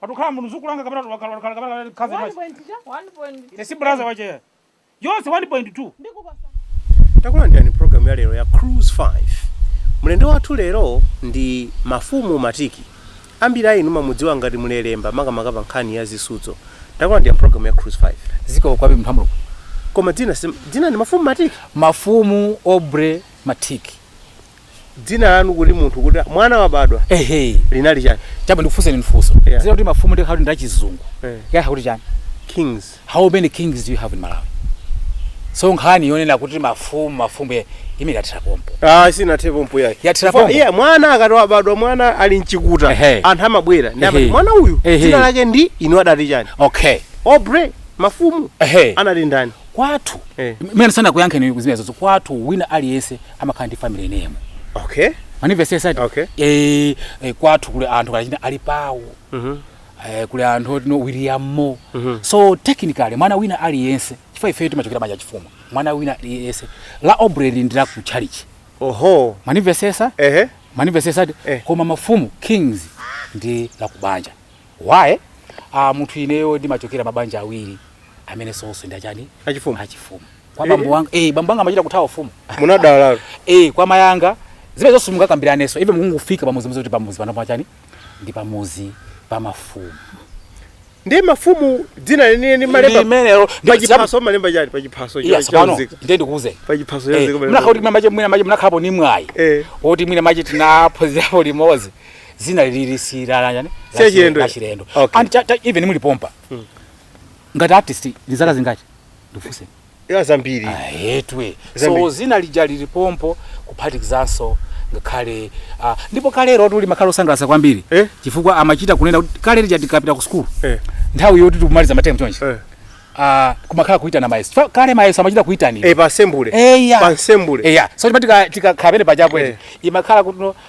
Patukhala munthu zukulanga kapena wakhala wakhala kapena One kazi point machi. cha? One point. Ine si brother wache. Yonse 1.2. Ndikupasa. takulandirani m'programu ya lero ya cruise 5 mlendo wathu lero ndi mafumu matiki ambiri a inu mumamudziwa ngati mulelemba makamaka pa nkhani ya zisudzo takulandirani m'programu ya cruise 5 zikomo kwambiri mphambulo koma dzina sim- dzina ndi mafumu matiki mafumu aubrey matiki dzina lanu kuti munthu kuti mwana wabadwa ehe linali chani chabwino ndikufunseni funso Yeah. dzina loti mafumu ndikhala kuti ndachizungu Eh. yakha kuti chani kings how many kings do you have in malawi so nkhani yonena kuti mafumu mafumu ye- imene yathera pompo ah sinathe pompo yake Yathera Chifukwa pompo. iye mwana akati wabadwa mwana ali mchikuta Ehe. anthu amabwera ndi amati Ehe. mwana uyu Ehe. dzina lake ndi inu adati chani okay aubrey mafumu ehe anali ndani kwathu Eh. mene ndisanakuyankheni zimenezo kwathu wina aliyense amakhala ndi family name okay mwandimvetsetsa Okay. eh, eh, kwathu kuli anthu kalachina ali pawo Mhm. eh, kuli anthu otino william mo so technically mwana wina aliyense chifukwa ifeyo timachokera m'banja lachifumu mwana wina aliyense la aubrey li ndi la ku church oho mwandimvetsetsa ehe mwandimvetsetsa Eh. koma mafumu kings ndi la kubanja why ah munthu ineyo ndimachokera mabanja awiri amene onse ndi achani achifumu achifumu kwa Eh. bambo wanga eh bambo wanga amachita kuthawa ufumu munadala eh kwa mayi anga zimene zonse mungakambiranenso ife mukangofika pamudzi mudzi kuti pamudzi pano pachani ndi pamudzi pa mafumu ndiye mafumu dzina lenileni mumalemba limenelo pachiphaso mumalemba chani pachiphaso iya tsopano ndiye ndikuuze pachiphaso munakakhala kuti mwina mwache mwina mwache munakhalapo ndi mwayi Eh. woti mwina mwache tinaphunzirapo limodzi dzina lili si la la chani Si la chilendo. la chilendo Okay. and cha- cha- even muli pompa ngati artist ndi zaka zingati ndifunse ya zambiri ahetwe Zambiri. so dzina lija lili pompo kuphatikizanso ngakhale ah, ndipo kalerotu limakhala losangalatsa kwambiri Eh? chifukwa amachita kunena kuti kale lija tikapita ku sukulu Eh. nthawi yoti tikumaliza matemu chonchi Eh. ah, kumakhala kuitana mayeso Fa- kale mayeso amachita kuitana Eh, pa assembly eya pa assembly eya so chima tikakhala pene pachapo Eh. eti imakhala kuti no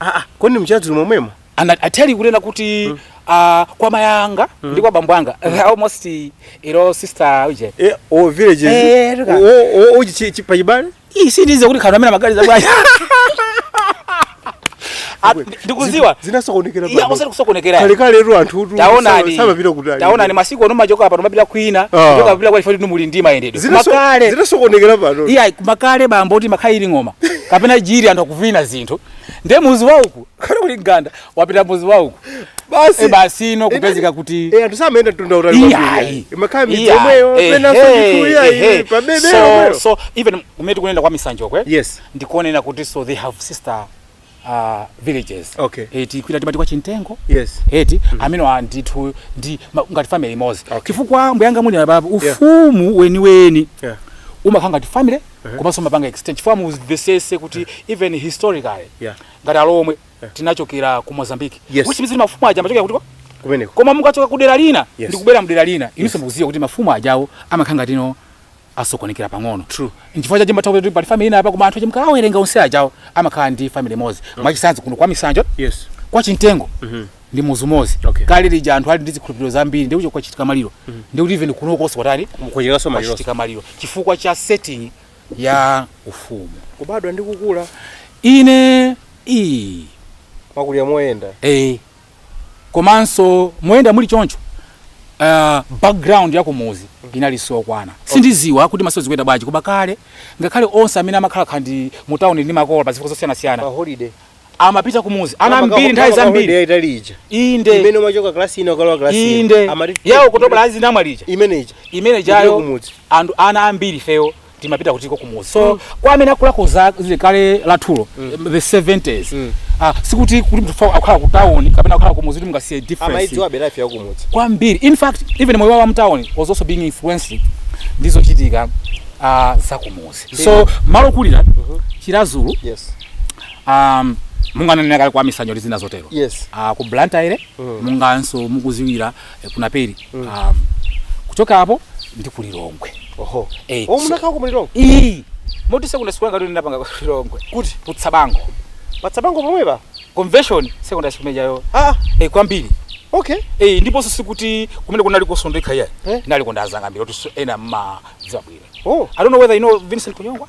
Ah, ah, kodi m'chiradzulu momwemo? And I tell you kunena kuti mm. uh, kwa mayi anga mm. ndi kwa bambo anga mm. almost ilo sister uje. Eh, o village. Eh, o o uje si pachibale? Ii sindidziwa kuti khana mena magari za bwana. Ah, ndikudziwa zinasokonekera pano osati kusokonekera kale kalero anthu tu taonani samapita kutali taonani masiku ano mumachoka pano mumapita kwina kuchoka ah. kupita kwa ifadi inu muli ndi mayendedwe koma kale zinasokonekera pano iya koma kale bambo ti imakhala ili ngoma kapena jiri anthu akuvina zinthu ndiye mudzi wa uku kaya kuli mganda wapita mudzi wa uku basi e basi ino kupezeka kuti eh anthu samayenda mtunda wautali kwambiri imakhala midzi yomweyo pena sokuya iyi pa bebe so so even kumene tikunena kwa misanjo kwe yes ndikunena kuti so they have sister uh, villages okay. eti eh, kwina timati kwa chintengo yes. eti eh, mm -hmm. amene andithu ndi ngati family imodzi okay. chifukwa mbuyanga muli abapo ufumu yeah. weniweni yeah. umakhala ngati family uh -huh. komanso mapanga exchange chifukwa muzimvetsetse kuti uh -huh. even historically yeah. ngati alomwe yeah. tinachokera ku mozambique yes. which means mafumu aja amachokera kuti kumeneko koma mukachoka kudera lina yes. ndi kubwera m'dera lina inunso yes. mukudziwa kuti mafumu ajawo amakhala ngati no asokonekera pang'ono true nchifukwa chache mmatha kuti pali family ina apa koma anthu ache mkawawerenga onse ajawo amakhala ndi family imodzi okay. mwachisanzo kuno kwa misanjo yes kwa chintengo mm -hmm. ndi muzu umodzi okay. kale lija anthu ali ndi zikhulupiriro zambiri ndi uko kwachitika maliro mm -hmm. ndikuti even kunokonso kwatani kwachitikanso maliro kwachitika maliro chifukwa cha setting ya ufumu kubadwa ndi kukula ine ndimakulira moyenda eh komanso moyenda muli choncho uh, background ya kumuzi inalinso yokwana sindiziwa kuti masano zikuyenda bwanji koma kale ngakhale onse amene amakhala kaya ndi mu town ndi makolo pa zifukwa zosiyanasiyana holiday amapita kumuzi ana ambiri nthawi zambiri yaitali ija inde imene umachoka class ino kukalowa class ino inde amati ya okutobala ya zinamwali ija imene ija imene Kupita ijayo kumudzi. anthu ana ambiri ifeyo timapita kutiko kumuzi so mm. kwa amene akulako za kale lathulo mm. the 70s mm. ah, sikuti kuti munthu akhala ku town kapena akhala kumuzi kuti mungadziwe difference amaidziwabe life ya kumuzi kwambiri in fact even moyo wa mtown was also being influenced ndizochitika uh, ah, za kumuzi so malo okulira mm -hmm. chiradzulu yes um, monga ndanena kale kwa misanjo ndi zina zotero yes. uh, ku blantyre mm. monganso mukudziwira eh, ku Naperi mm. um, kuchoka apo ndi ku Lilongwe oho eh, oh, munakhalako Lilongwe ee moti secondary school yanga ndinapanga ku Lilongwe kuti ku Tsabango pa Tsabango pomwe pa conventional secondary school imene ijayo ah eh, kwambiri okay eh, ndiponso sikuti kumene kunali kosondeka ayi Eh. ndinaliko ndi anzanga ambiri kuti ena mma dzabwira oh i don't know whether you know Vincent Kunyongwa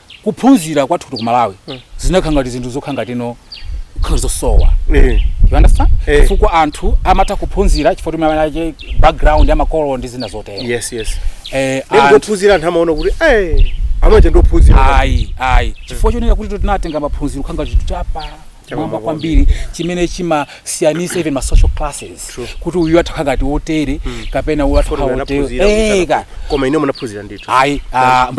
kuphunzira kwathutu ku malawi zinakhala ngati zinthu zokhala ngati no kukhala zosowa Eh. you understand Eh. chifukwa anthu amatha kuphunzira chifukwa mwina cha background ya makolo ndi zina zotero yes yes eh, anthu- ndikuphunzira anthu amaona kuti eh amene aja ndophunzira ayi ayi chifukwa chonena kuti tinatenga maphunziro kukhala ngati chinthu chapa chamwamba kwambiri chimene chimasiyanitsa even ma social classes kuti uyu atakhala ngati wotere hmm. kapena uyu atakhala wotere eh, koma inu munaphunzira ndithu ayi ah,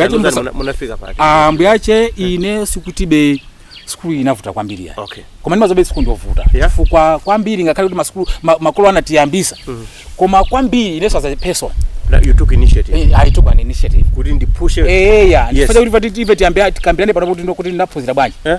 munafika pati ah, mbuyache hmm. ine sikutibe sukulu inavuta kwambiri ayi okay. koma ndimadziwabe sukulu ndovuta yeah. fukwa kwambiri ngakhale kuti masukulu ma, makolo anatiyambitsa mm -hmm. koma kwambiri inenso as a person you took initiative eh, i took an initiative kuti ndipushe eh yeah yes. ndifuna kuti ife tiyambe tikambirane pano kuti ndokuti ndinaphunzira bwanji eh?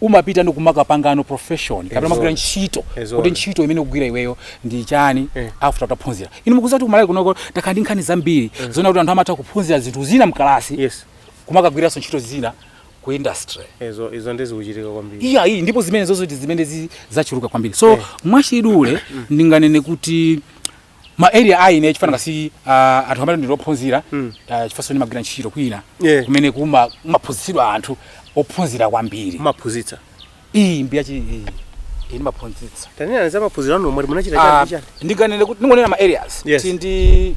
umapita ndi kumakapangano profession kapena Ezoona. magwira ntchito Ezoona. kuti ntchito imene ukugwira iweyo ndi chani Eh. after utaphunzira inu mukuziwa kuti kumalawi kunoko takhala ndi nkhani zambiri zoona kuti anthu amatha kuphunzira zinthu zina mkalasi yes kumakagwiranso ntchito zina ku industry izo izo nde zikuchitika kwambiri iya iyi ndipo zimenezozo ndi zimene zi- zachuluka kwambiri so Eh. mwachidule ndinganene kuti ma area a ine chifukwa nanga si ah, anthu amati ndili ophunzira ah, chifukwanso ndimagwira ntchito kwina Yeah. kumene kuma- kumaphunzitsidwa anthu ophunzira kwambiri maphunzitsa iyi mbiya chi iyi iyi ndimaphunzitsa tanena za maphunziro anu omwe munachita Ah, chani chani ndikanene kuti ndingonena ma areas Yes. Ti ndi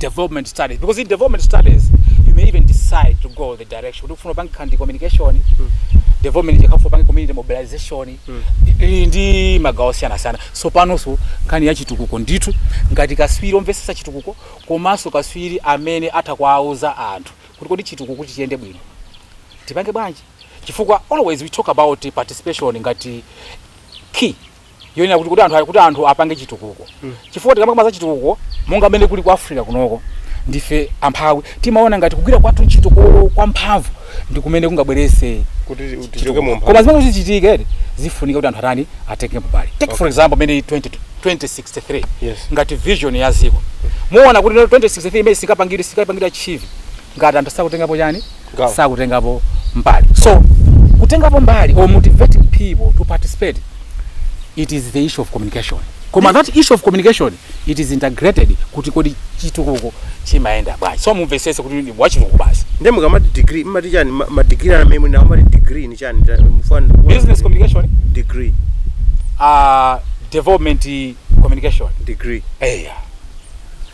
development studies because in development studies you may even decide to go the direction kuti ufuna upange kandi communication development kaya ufuna upange community mobilization ili ndi magawo osiyanasiyana so panonso nkhani ya chitukuko ndithu ngati kaswiri omvesesa chitukuko komanso kaswiri amene atha kuwauza anthu kuti kodi chitukuko kuti chiyende bwino tipange bwanji chifukwa always we talk about participation ngati key yonena kuti kuti anthu kuti anthu apange chitukuko mm. chifukwa tikamakamba za chitukuko monga mmene kuli ku africa kunoko ndife amphawi timaona ngati kugwira kwathu chitukuko kwa mphamvu ndi kumene kungabwerese koma zimene kuti zichitike zifunika kuti anthu atani atenge mbali take okay. for example mene 20, 2063 yes. ngati vision ya ziko muona kuti 2063 imene singapangidwe singapangidwe achieve ngati anthu sakutengapo chani Gawo. sakutengapo mbali so kutengapo mbali or motivating people to participate it is the issue of communication koma that issue of communication it is integrated kuti kodi chitukuko chimayenda bwanji so mumvesese kuti ndi wachitukuko basi nde mukamati degree mmati chani ma- ma degree anu amene muli nawo mati degree ni chani ta- mufana ndikuona business kuti- communication degree uh, development communication degree eya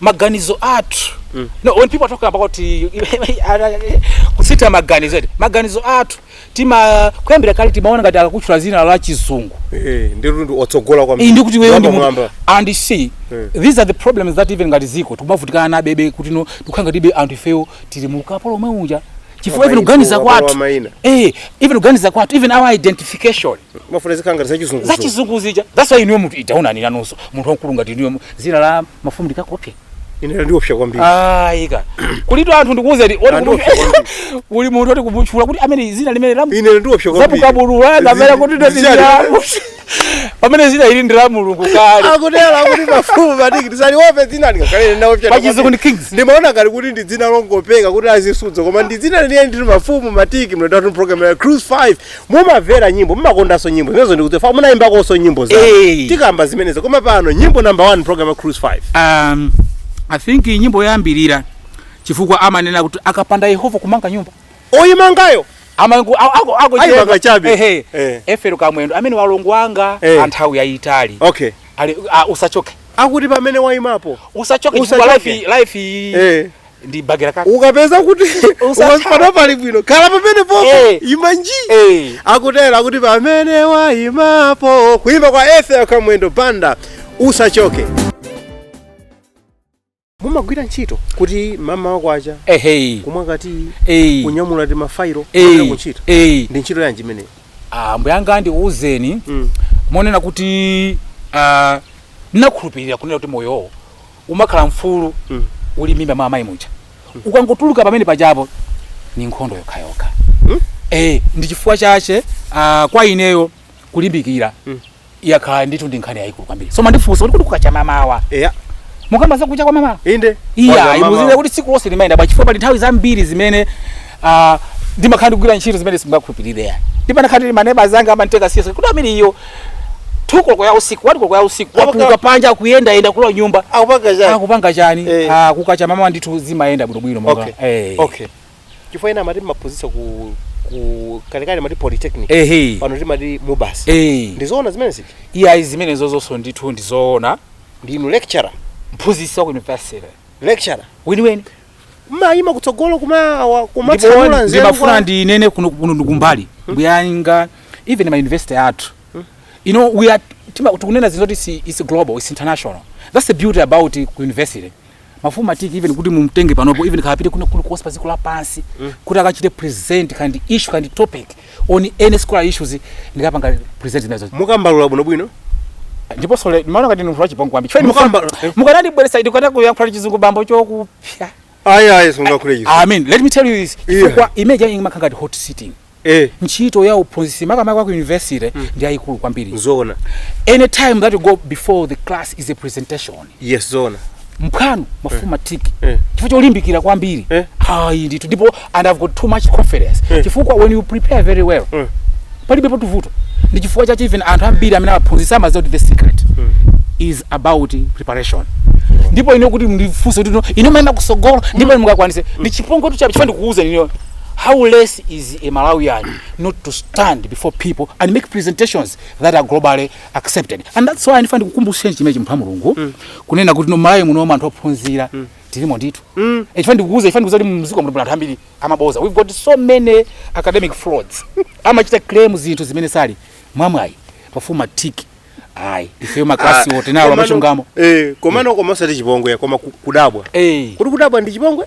maganizo athu mm. no, when people talk about kusintha maganizo eti maganizo athu tima kuyambira kale timaona ngati akakutchula zina la chizungu eh ndi ndi otsogola kwambiri kuti iweyo ndi mwamba and see mm. these are the problems that even ngati ziko tikumavutikana nawobe kuti no tikukhala ngatibe anthu ifeyo tili mu ukapolo omwe unja chifukwa even kuganiza kwathu eh even kuganiza kwathu even our identification mafuna zikhala ngati zachizunguzo zachizungu zija that's why inuyo munthu idaonani nanunso munthu wamkulu ngati inuyo mu- dzina la mafumu ndikakopya inera ndiopsa kwambiri ayi kulitu anthu ndikuwuzeni oti Anthu kumu- opsa kwambiri. kuli munthu oti kumutchula kuti amene dzina limene lamuyenera ndiopsa kwambiri zapukabulula kapena kuti Zi- ziyani? ndatiamu pamene zina ili ndi la mulungu kale akutera kuti mafumu matiki tisaliope dzina ndingakhale ndinaopsa Pachizungu ndi Kings. ndimaona ngati kuti ndi dzina longopeka kuti azisudzo koma ndi dzina lenileni ndi mafumu matiki mlendo wathu program ya cruise 5 mumavera nyimbo mumakondanso nyimbo zimenezo ndikudziwa fa munayimbakonso nyimbo za Eh. tikamba zimenezo koma pano nyimbo number 1 program ya cruise 5 um, i think iyi nyimbo yambirira chifukwa amanena kuti akapanda yehova kumanga nyumba oyimangayo amanga a- ako- ako Ayi, chiyemba. makachabe. Ehe. Eh. ethel kamwendo amene alongo anga Eh. anthawi yayitali okay Ali- ah, usachoke akuti pamene wayimapo usachoke chifukwa Usachoke. life life iyi Eh. ndi bagera kaka ukapeza kuti Usatha. ukapata pali bwino khala pamenepopo Eh. ima nji Eh. akutero akuti pamene waimapo kuimba kwa ethel kamwendo banda usachoke mumagwira ntchito kuti mamawa kwacha ehe kumwa katiyi eyi kunyamula timafayilo eyi kupita kuntchito eyi ndi ntchito yanji imeneyo ambuyanga ndikuwuzeni Mm. monena kuti ah, ndinakhulupirira kunena kuti moyowo umakhala mfulu uli m'mimba mwa amayi muja ukangotuluka pamene pajapo ni nkhondo yokhayokha eh ndi chifukwa chache ah, kwa ineyo kulimbikira yakhala ndithu ndi nkhani yayikulu kwambiri so mwandifunsa kuti kuti kukacha mamawa eya mukamba zakucha kwa mamawa inde iya Kwanza mama- imuzire kuti tsiku lonse limayenda bwa chifukwa pali nthawi zambiri zimene ah, ndimakhala ndikugwira ntchito zimene simungakhulupirire yani ndipanakhala tili maneba zanga amanditeka siyesa kuti amene iyo 2 koloko ya usiku 1 koloko ya usiku Amaka- watuluka panja akuyendayenda kulowa m'nyumba akupanga chani akupanga chani Eh. Ah, kukacha mamawa ndithu zimayenda bwinobwino monga okay Eh. okay chifukwa ena amati mumaphunzitsa ku ku kalekale amati polytechnic ehe pano timati mubas Eh. ndizoona zimenezi iyayi zimenezo zonso ndithu ndizoona ndinu lecturer mphunzitsi wa ku university lecturer weniweni mumayima kutsogolo kumawa kumatsanula ndipo nzeru ndimafuna kwa ndinene kuno kuno ndikumbali mbuyanga even ma university athu you know we are tima- tikunena zinthu zoti si- is global is international that's the beauty about ku university mafumu matiki even kuti mumtenge panopo even kapite kuno kuno kulikonse pa dziko lapansi kuti akachite present kaya ndi issue kaya ndi topic on any scholar issues ndikapanga present zimenezo mukambalula bwinobwino ndipo sole ndimaona ngati ndinu wachipongwe kwambiri chifukwa Mukamba- ndimufuna- mukanandibweresa ine kukana kuyankhula chizungu bambo chokupsa ayi ayi simungakhule izo i mean let me tell you this Yeah. chifukwa image yanyi imakhala ngati hot sitting eh ntchito ya uphunzitsi makamaka wa ku university ndi yayikulu kwambiri nzoona any time that you go before the class is a presentation yes zona mphwanu mafumu matiki Eh. chifukwa cholimbikira kwambiri Eh. ayi ndithu ndipo and i've got too much confidence Eh. chifukwa when you prepare very well Mm. palibepotu vuto ndi chifukwa chache even anthu ambiri amene aphunzitsa amaziwa kuti the secret is about preparation ndipo ine kuti ndifunse kuti no, inu mmaenda kusogolo ndipo mungakwanise ndi chipongwetu chabe chifukwa ndikuuzeni how less is a malawian not to stand before people and make presentations that are globally accepted and that's why ndifuna ndikukumbutseni chimene chimupha mulungu mm. kunena kuti no malawi muno anthu ophunzira mm. tilimo ndithu mm. e chifana ndikukuza ndifuna ndikuuze kuti muziko muno anthu ambiri amaboza we've got so many academic frauds amachita claim zinthu zimene sali mwamwayi mafumu matiki ayi ifeyo maklasi ah, wote nawo amachungamo eh komano mm. koma osati chipongwe koma kudabwa eh kuti kudabwa ndi chipongwe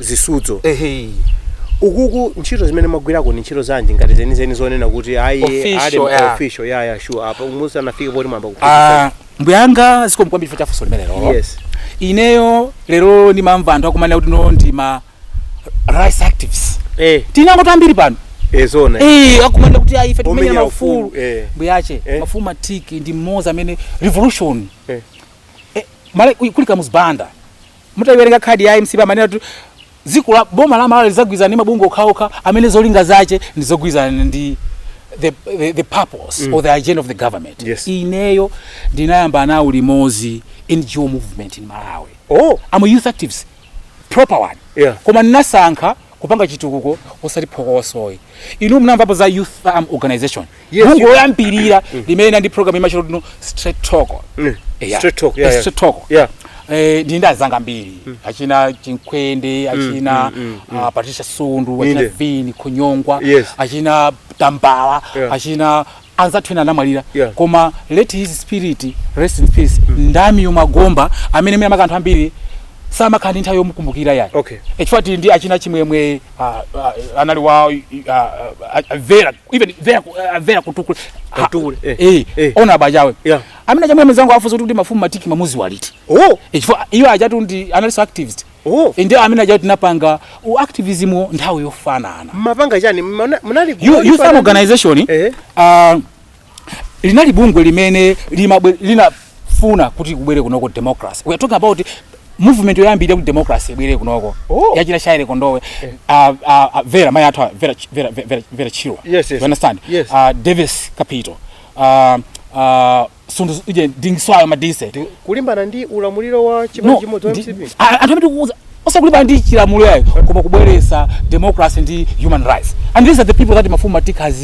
zisudzo ehe ukuku ntchito zimene mwagwirako ndi ntchito zanji ngati zenizeni zonena kuti ayi Official, ali mu- yeah. official ya ya sure apa musanafike poti mwayamba kuphunzitsa Ah, mbuyanga zikomo kwambiri chifukwa chafunso limenelo yes ineyo lero ndimamva anthu akumanena kuti no ndi ma rights activists eh tima NGO tambiri pano e zoona Eh, akumanena kuti ayi ife tikumenya Omenya maufulu ufulu, eh. mbuyache Eh. mafumu matiki ndi mmodzi amene revolution Eh. Eh, male kuli kamuzu banda Mutaiwerenga khadi ya mcp amanena kuti dziko la boma la Malawi lidzagwirizana ndi mabungwe okhaokha amene zolinga zache ndi zogwirizana ndi the, the, the purpose mm. or the agenda of the government yes. Ineyo ndinayamba nawo limozi NGO movement in Malawi oh. I'm a youth activist proper one yeah. koma ndinasankha kupanga chitukuko osati phokosoyi inu munamvapo za youth arm organization Yes, bungwe you- loyambirira limene ndi program imatchedwa kuti no straight talk Mm. Yeah. Straight talk, yeah, yeah. Straight talk. Yeah. Eh, ndi ndi anzanga ambiri achina chinkwende achina ah, patricia sundu achina Inde. vini kunyongwa Yes. achina tambala Yeah. achina anzathu ena anamwalira Yeah. koma let his spirit rest in peace ndamyo magomba amene mene amakanthu ambiri samakhala ndi nthawi yomukumbukira yayi Okay. e chifukwa tili ndi achina chimwemwe ah, ah, anali wa ah, ah, ah, vera even vera ku- eh, vera kamtukule Ha- Kamtukule, eh, eh, eh. ona abachawe Yeah. amene aja mudzangowafunsa kuti mafumu matiki mamudziwa liti oh Eh, chifukwa iwo ajatu ndi analyst activist oh Eh, ndiye amene ajatu tinapanga u activism wo nthawi yofanana mumapanga chani Mmana- munali Yu- youth munali- arm organization Eh. ah, linali bungwe limene limabwe- lina funa kuti kubwere kunoko democracy we are talking about movement yoyambirira kuti democracy ibwere kunoko Oh. ya achina shyley kondowe uh, uh, vera mai athu a- vera Ch- vera vera, vera chirwa Yes, yes. you understand Yes. uh, davis kapito uh, uh, sundu uje dingiswayo madise kulimbana ndi ulamuliro wa chipani chimodzi wa mcp anthu amene tikuuza osakulimbana ndi chilamulo yayi koma kubweresa democracy ndi human rights and these are the people that mafumu matiki has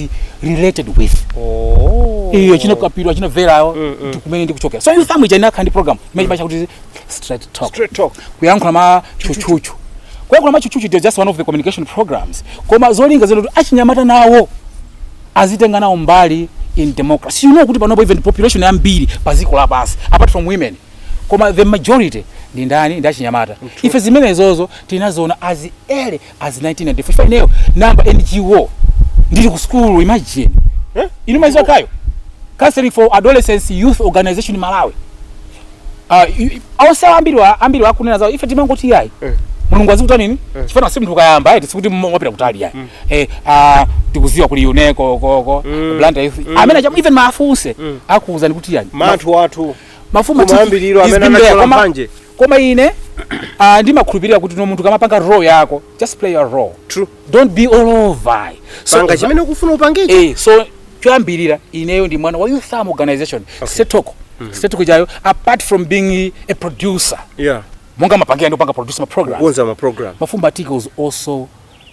related with oh. iyo achina kapito achina verawo mm, mm. kumene ndikuchokera so youth arm ija inakhala ndi program imene timaitcha kuti straight talk straight talk kuyankhula mwatchutchutchu kuyankhula mwatchutchutchu is just one of the communication programs koma zolinga zoti achinyamata nawo azitenga nawo mbali in democracy you know kuti panopo even population yambiri pa ziko lapansi apart from women koma the majority ndi ndani ndi achinyamata ife zimenezozo tinaziona as early as 1994 ineyo ndinayamba ngo ndili ku sukulu imagine Eh? inu mumaiziwa kayo counseling for adolescents youth organization malawi Ah, i- i- onse ambiri wa- ambiri akunena zawo ife timangoti yayi Eh. mulungu azikuta nini chifukwa si mnthu kayamba eti sikuti mmo- wapita kutali yayi Eh, ah, tikuziwa kuli uneko koko Mm. blantyre youth Mm. amene acha- even maafunse akuwuzani kuti yani munthu wathu mafumu matiki kumayambiriro is amene been there, analowa koma- mphanje koma ine ah, ndimakhulupirira kuti no munthu ukamapanga role yako just play your role True. don't be all over so, panga chimene ukufuna upangecho eh, so choyambirira ineyo ndi mwana wa youth arm organization okay. setoko mm -hmm. setoko ijayo apart from being a producer yeah monga mmapangira ndikupanga produce ma programs kukonza ma program mafumu matiki was also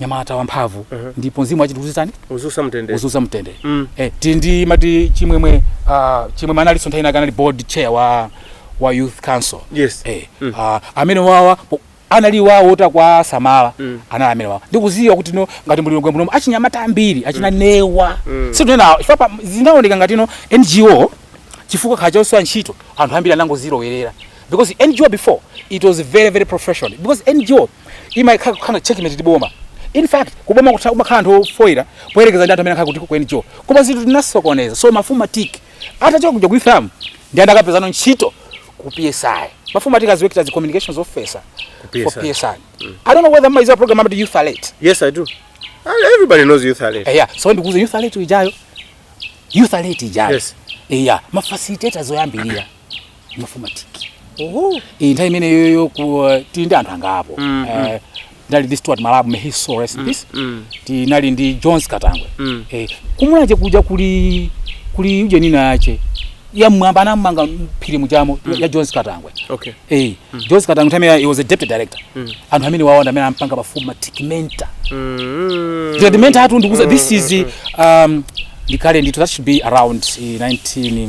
nyamata wamphamvu Mhm. ndipo mzimu wache uchite chiyani uwuse mtendere uwuse mtendere Mm. eh, tili ndi mati chimwemwe ah, chimwemwe analinso nthawi inake anali board chair wa, wa youth council yes eh, Mm. ah, amene wawa po- anali awo otakwa samala Mm. anali amene wawa ndikuziwa kuti no ngati mulilongwe munomu achinyamata ambiri achina newa Mm. situnena chifukwa zinaoneka ngati no ngo chifukwa chakuti chosowa ntchito anthu ambiri anangozilowerera because ngo before it was very very professional because ngo imayenera kukhala checkmate ndi boma in fact kuboma kutha kumakhala anthu ofoira poyerekeza ndi anthu amene akhala kuti ku NGO koma zinthu zinasokonekera so mafumu matiki atachoka kuja ku youth arm ndinakapezanso ntchito ku PSI mafumu matiki has worked as a communications officer for PSI. PSI I don't know whether mumaiziwa program ya youth alert Yes, I do. And everybody knows youth alert. eya so ndikuuza youth alert ijayo youth alert ijayo Yes. eya mafacilitators oyambirira mafumu matiki Oho. iyi nthawi imeneyoyo ku- eh, tili ndi anthu angapo Mm, Eh, tinali ndi stuart malabu may his soul rest in peace Mm. tinali ndi jones katangwe Mm. eh, kumulanje kuja kuli kuli ujeni ina yake yamwamba anamanga mphiri mujamo ya jones katangwe Okay. eh, jones katangwe nthawi imeneyo, he was a deputy director Mm. anthu amene awona amene anampanga mafumu matiki mentor Mm. tikati mentor apatu ndikuuza this is um, ndikale ndithu that should be around eh, 19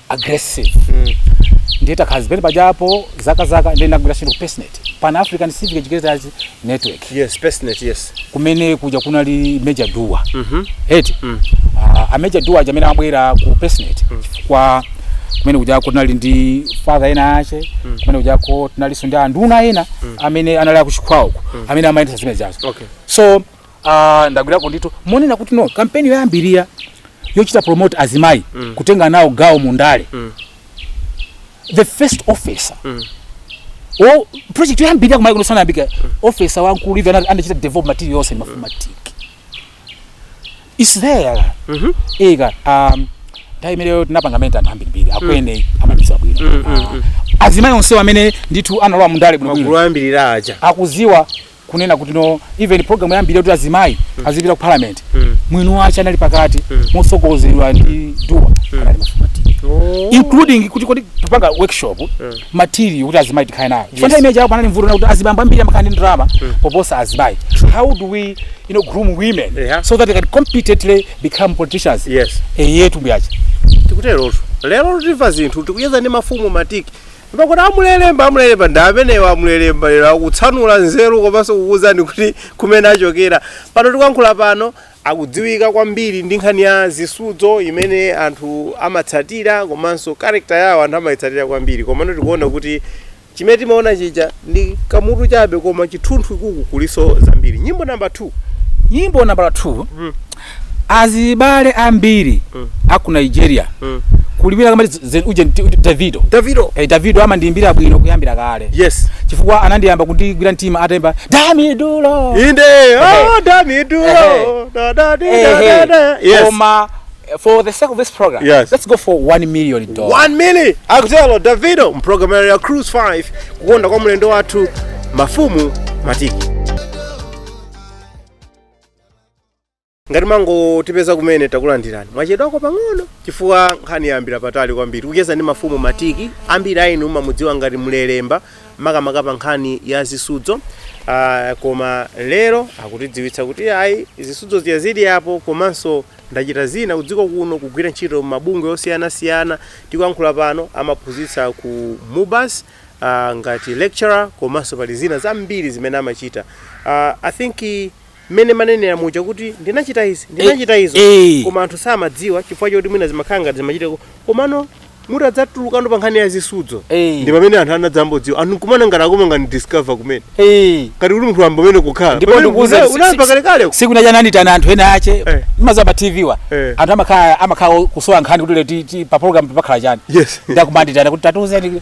aggressive mm. ndiye takhala zimene pajapo zaka zaka ndiye ndagwira ntchito ku pacenet pan african civic educators network yes pacenet yes kumene kuja kunali major dua mm -hmm. eti mm. uh, a major dua aja amene amabwera ku pacenet mm. kwa kumene kujako tinali ndi father ena ache mm. kumene kujako tinalinso ndi anduna ena mm. amene anali akuchikwawako mm. amene amayendesa zimene zazo okay. so Ah, ndagwirako ndithu monena kuti no kampeni yoyambirira yochita promote azimayi mm. kutenga nawo gawo mu ndale mm. the first officer mm. o project yoyambirira ku Malawi kuno sanayambika mm. officer wankulu ivi ana- anachita develop material yonse mafumu matiki is there mm -hmm. ika um, nthawi imeneyo tinapanga mene anthu ambirimbiri akwene amabisa bwino mm, mm, mm. azimayi onsewo amene ndithu analowa mu ndale bwinobwino magulu ayambirira aja akuziwa kunena kuti no even program yambiri yoti azimayi mm. azipita ku parliament mm. mwini wace anali pakati mm. mosogozedwa ndi duwa mm. anali mafumu matiki oh. including kuti kodi tipanga workshop mm. material kuti azimayi tikhale nayo yes. chifukwa imene ija panali vuto lakuti azibambo ambiri amakhala ndi ndalama mm. poposa azimayi how do we you know groom women yeah. so that they can competently become politicians yes. eyetu mbuyace tikuterotu lero timva zinthu tikucheza ndi mafumu matiki Pakuti amulelemba, amulelemba ndi amenewa amulelemba lero akutsanula nzeru komanso kukuwuzani kuti kumene achokera. Pano tikuyankhula pano akudziwika kwambiri ndi nkhani ya zisudzo imene anthu amatsatira komanso character yawo anthu amayitsatira kwambiri. Komano tikuona kuti chimene timaona chija ndi kamutu chabe koma chithunthu ukuku kulinso zambiri. Nyimbo number 2. Nyimbo nambala 2 azibale ambiri Mm. aku nigeria Mm. kulibira kama zen uje ndi- uje davido davido eh, davido amandiimbira bwino kuyambira kale yes chifukwa anandiyamba kundigwira mtima ataimba dami duro inde oh, Ehe. dami duro Ehe. da, da, di, Eh, da, eh. da, da. yes koma eh, for the sake of this program Yes. let's go for 1 million dollars one milli akutero davido mprogramu ya cruise 5 kukonda kwa mlendo wathu mafumu matiki ngati mwangotipeza kumene takulandirani mwachedwako pang'ono chifukwa nkhani yayambira patali kwambiri kucheza ndi mafumu matiki ambiri a inu mumamudziwa ngati mlelemba makamaka pa nkhani ya zisudzo uh, koma lero akutidziwitsa kuti ayi zisudzo zija zili apo komanso ndachita zina kudziko kuno kugwira ntchito m'mabungwe osiyanasiyana tikuyankhula pano amaphunzitsa ku mubas uh, ngati lecturer komanso pali zina zambiri zimene amachita uh, i think mmene mwanenera muja kuti ndinachita izi ndinachita izo eh. koma anthu samadziwa chifukwa choti mwina zimakhala ngati zimachita ku- komano mutadzatulukano pa nkhani ya zisudzo Eh. ndi pamene anthu anadzambodziwa anthu kumana ngati akoma ngati discover kumene Eh. ngati kuti munthu wayamba kumene kukhala ndipo Pamene ndikuuza una- unayamba kalekale tsiku lina lija anandiitana anthu enaake Eh. maza pa tv wa Eh. anthu amakhala amakhala kusowa nkhani kuti leti ti- pa program pakhala chani yes nde akumandiitana kuti tatiuzeni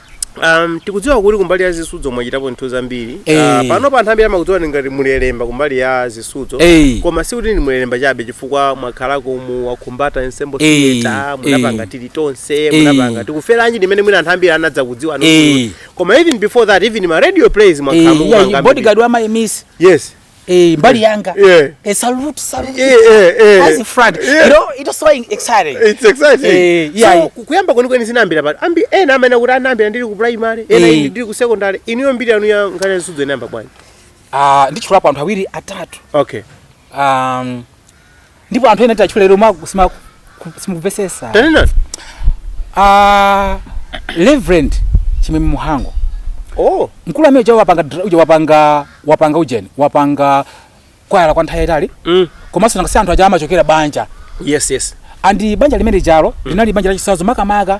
Um, tikudziwa kuti kumbali ya zisudzo mwachitapo zinthu zambiri Eh. Ah, panopa anthu ambiri amakudziwani ngati mulelemba kumbali ya zisudzo Eh. koma si kuti ndi mulelemba chabe chifukwa mwakhalako mu wakhumbata ensemble Eh. theatre munapanga Eh. tili tonse Eh. munapanga tikuferanji ndimene mwina anthu ambiri anadzakudziwa no Eh. koma even before that even ma radio plays mwakhala Eh, yeah, mukupanga bodyguard wa my miss yes Eh, mbali yanga. Yeah. A salute, salute. Yeah, yeah, yeah. As a friend. Yeah. You know, it is so exciting. It's exciting. Eh, yeah. So, kuyamba kweni kweni sinambira bali. Ambi, eh, na amena kuti anambira ndiri ku primary, eh, na eh. ndiri ku secondary. Iniyo mbiri anu ya ngana nsudzo inamba bwani. Ah, uh, ndichulapo anthu awiri atatu. Okay. Um, ndipo anthu ena tiwatchula lero makusima- ku- simukumvetsetsa tanena Ah, reverend chimwemwe Mhango oh mkulu amene uja wapanga dra- uja wapanga wapanga ujeni wapanga kwaya kwa nthawi yayitali mm. komanso nangasi anthu aja amachokera banja yes yes andi banja limene jalo linali banja lachitsanzo makamaka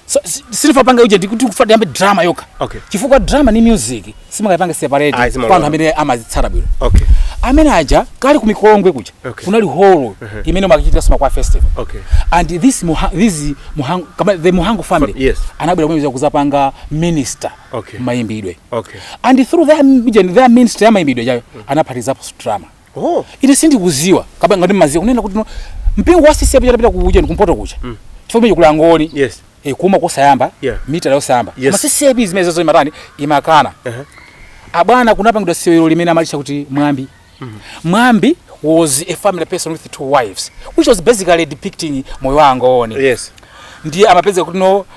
So, si- sindifuna ndipange ujeni ndikuti kufuna tiyambe drama yokha Okay. chifukwa drama ni music simungapange Ayi, separate simalola. kwa anthu amene amazitsatira bwino okay amene aja kale ku mikolongwe kuja Okay. kunali holo imene kumachitika ma kwaya festival okay and this Mha, this Mhango, kaya the Mhango family Yes. anabwera kumene kuzapanga ministry Okay. mayimbidwe okay and through their, their ministry ya mayimbidwe jayo anaphatizapo drama Oh. ine sindikuziwa kapena ngati mumaziwa kunena kuti no mpingo wa CCAP utapita ku ujeni kumpoto kuja mm. chifukwa kumene kuja kuli angoni Yes. e, kumwa kosayamba Yeah. mitala yosayamba Yes. koma CCAP zimenezozo imatani imakana Uh-huh. abwana kunapangidwa sewero limene amalitcha kuti Mwambi Mwambi was a family person with two wives which was basically depicting moyo wa angoni Yes. ndiye amapeza kuti no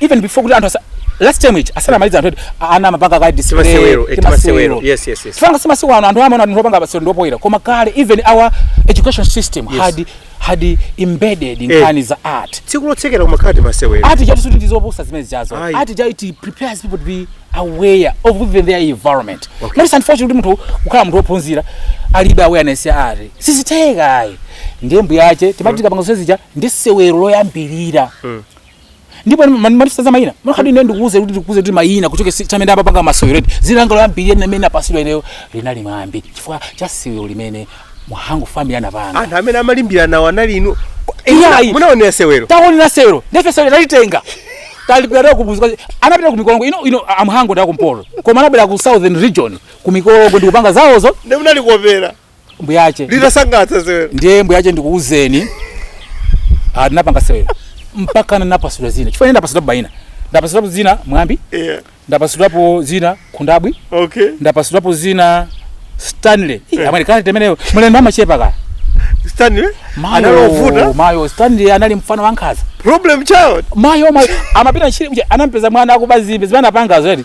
even before kuti anthu asa last term ija asanamaliza anthu eti ana amapanga kale display Timasewero, eh, timasewero. Yes, yes, yes. mfana si masiku ano anthu amaona anthu opanga masewero ndi opoira koma kale even our education system Yes. had had embedded Eh. nkhani za art tsiku lotsekera kumakhala timasewero art jatu sikuti ndizopusa zimene zijazo Ayi. art ija it prepares people to be aware of even their environment Okay. ndi unfortunate kuti munthu kukhala munthu wophunzira alibe awareness ya art siziteka ayi ndiye mbuyo mwache timati tikapanga zonse zija ndi sewero loyambirira ndipo amatipatsa mayina mwakuti ine ndikuuze kuti ndikuuze kuti mayina kuchokera mmene ndayamba kupanga masewero eti zina langa loyambirira limene ndinapasidwa ineyo linali Mwambi chifukwa cha sewero limene Mhango family anapanga anthu amene amayimbira nawo anali inu Iyayi. munaonera sewero taonera sewero nde ife sewero talitenga talipira kuzuka anabwera ku Mikolongwe inu inu a Mhango ndi akumpoto koma anabwera ku southern region ku Mikolongwe ndikupanga zawozo nde munali kuwonera mbuyo mwache litasangalatsa sewero ndiye mbuyo mwache ndikuuzeni ah, ndinapanga sewero mpaka ndinapasidwa zina chifukwa ine ndapasidwapo maina ndapasidwapo zina Mwambi yeah. ndapasidwapo zina Khundabwi okay ndapasidwapo zina Stanley Eh. amene kale temeneyo mulendo amachepa ka Stanley Mayo, anali wovuta mayo Stanley anali mfana wankhaza problem child mayo mayo amapita ntchito kuti anampeza mwana akuba nzimbe zimene anapangazo eti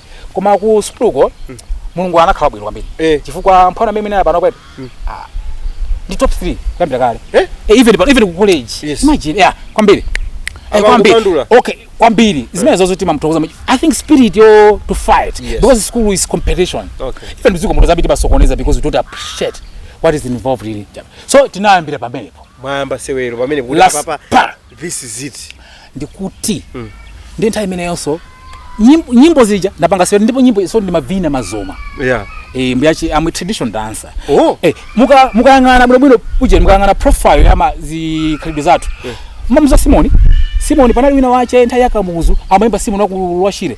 koma ku sukuluko Mulungu anakhala bwino kwambiri Eh. chifukwa mfana amene ameneyo pano kwetu ah, ndinali top 3 kuyambira kale Eh? Eh, even pa- even ku college Yes. imagine yeah kwambiri Eh, Apa kwambiri kupandula. okay kwambiri zimenezozo timamthokoza mu- i think spirit yo to fight Yes. because school is competition Okay. even mudziko muno za miti amasokoneza because we don't appreciate what is involved in it so tinayambira pamenepo mwayamba sewero pamene kuti Last apapa pa. this is it ndikuti mm. ndi nthawi imeneyonso nyimbo, nyimbo zija ndapanga sio ndipo nyimbo so ndimavina mazoma yeah eh mbuyache am a traditional dancer oh eh muka mukayang'ana bwino bwino uje mukayang'ana profile ya ma zikhalidwe zathu yeah. mamuza simoni simoni panali wina wache nthawi ya Kamuzu amayimba simoni wakulwashire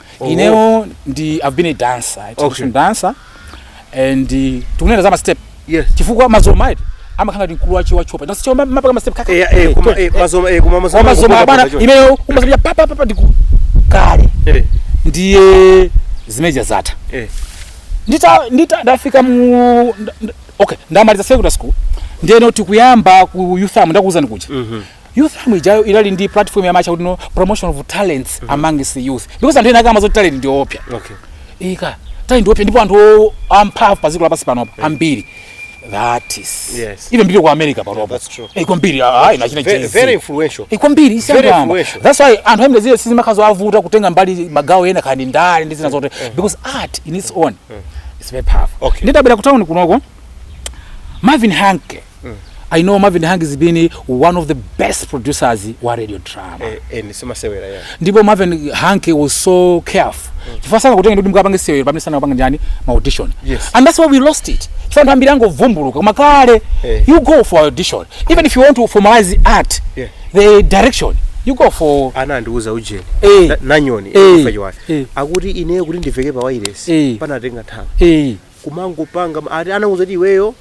inewo ndi i've been a dancer a traditional Okay. dancer and uh, tikanena za ma step Yes. chifukwa mazoma ayi amakhala ndi gule wa tchopa nasi choma mapaka ma step kaka Eh, eh, koma- eh, mazoma- eh, koma mazoma- koma mazoma abana mazoma- imeyo umasabya papa papa ndiku kale Eh, ndiye zimeja zatha eh. ndita ndita ndafika mu nda- nda- okay ndamaliza secondary school ndeno tikuyamba ku youth farm ndakuwuzani kuja Youth Farm ijayo inali ndi platform ya amatcha kuti no promotion of talents mm -hmm. amongst the youth because anthu ena sadziwa zoti talent ndi yoopsa okay ika talent yoopsa ndipo anthu o- amphamvu pa dziko lapansi panopa ambiri that is Yes. even people ku America panopa that's true. Eh, kwambiri ah, ah, achina Very, Jay-Z. very influential. kwambiri Very isiyamba influential. that's why anthu amene zilibe sizimakhalanso zovuta kutenga mbali magawo ena kaya ndi ndale ndi zina zotero because art in its own is very powerful Okay. ndidabwera ku town kunoko Marvin Hanke mm. I know Marvin Hangi has been one of the best producers wa radio drama. Eh, eh, nisema sewera ya. Ndipo Marvin Hangi was so careful. Mm. Chifukwa sana kutenga ndugu mkapange sewera pamene sana kupanga njani ma audition. Yes. And that's why we lost it. Chifukwa ntambira yangu vumbuluka kama kale. Eh. You go for audition. Even if you want to formalize art, yeah. the direction. You go for ana ndiuza ujeni hey. Eh. nanyoni hey. Eh. hey. Eh. akuti ineyo kuti ndiveke pa wireless hey. panatenga nthawi hey. kumangopanga ati anauza ti iweyo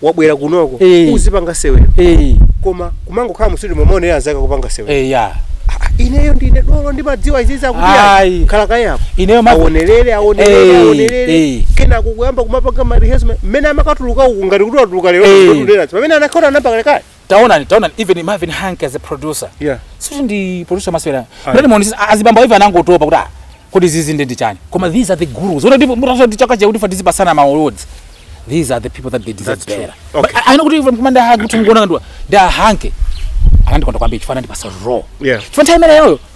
wabwera kunoko Eh. uzapanga sewero Eh, koma kumangokhala mu studio kumaonera anzako kupanga sewero eh, ya Ah, ineyo ndine dolo ndimadziwa zimenezi Ayi. akuti khala kaye apo ineyo ma- aonelere aonelere Eh, aonelere eh. kenako kuyamba kumapanga ma rehearsal mmene timakatuluka uku ngati kuti watuluka lero Eh. koma pamene anakhala anayamba kale taonani taonani even Marvin Hanke as a producer yeah si ndi producer masewero ndio muonisa azibambo even anangotopa kuti ah kodi izizi ndi ndichani koma these are the gurus unaona ndipo mutati chaka cha kuti ife tizipatsana ma awards these are the people that they deserve That's true. better Okay. But I I know kuti even commander Hanke kuti ngona ndi a dad Hanke anandikonda kwambiri chifukwa anandipatsa role Yeah. chifana time imeneyo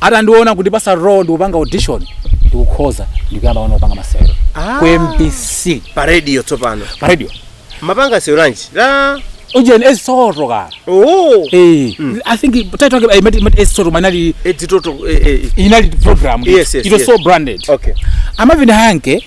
atandiona kundipatsa role ndikupanga audition ndikukhoza ndikuyamba wana kupanga masewero Ah. ku MBC pa radio tsopano pa radio timapanga sewero lanji la ujeni Edzi Toto kaya oh Eh, i think title yake imati imati Edzi Toto inali Edzi Toto eh, eh, inali program Yes, yes, it was yes. so branded okay a Marvin Hanke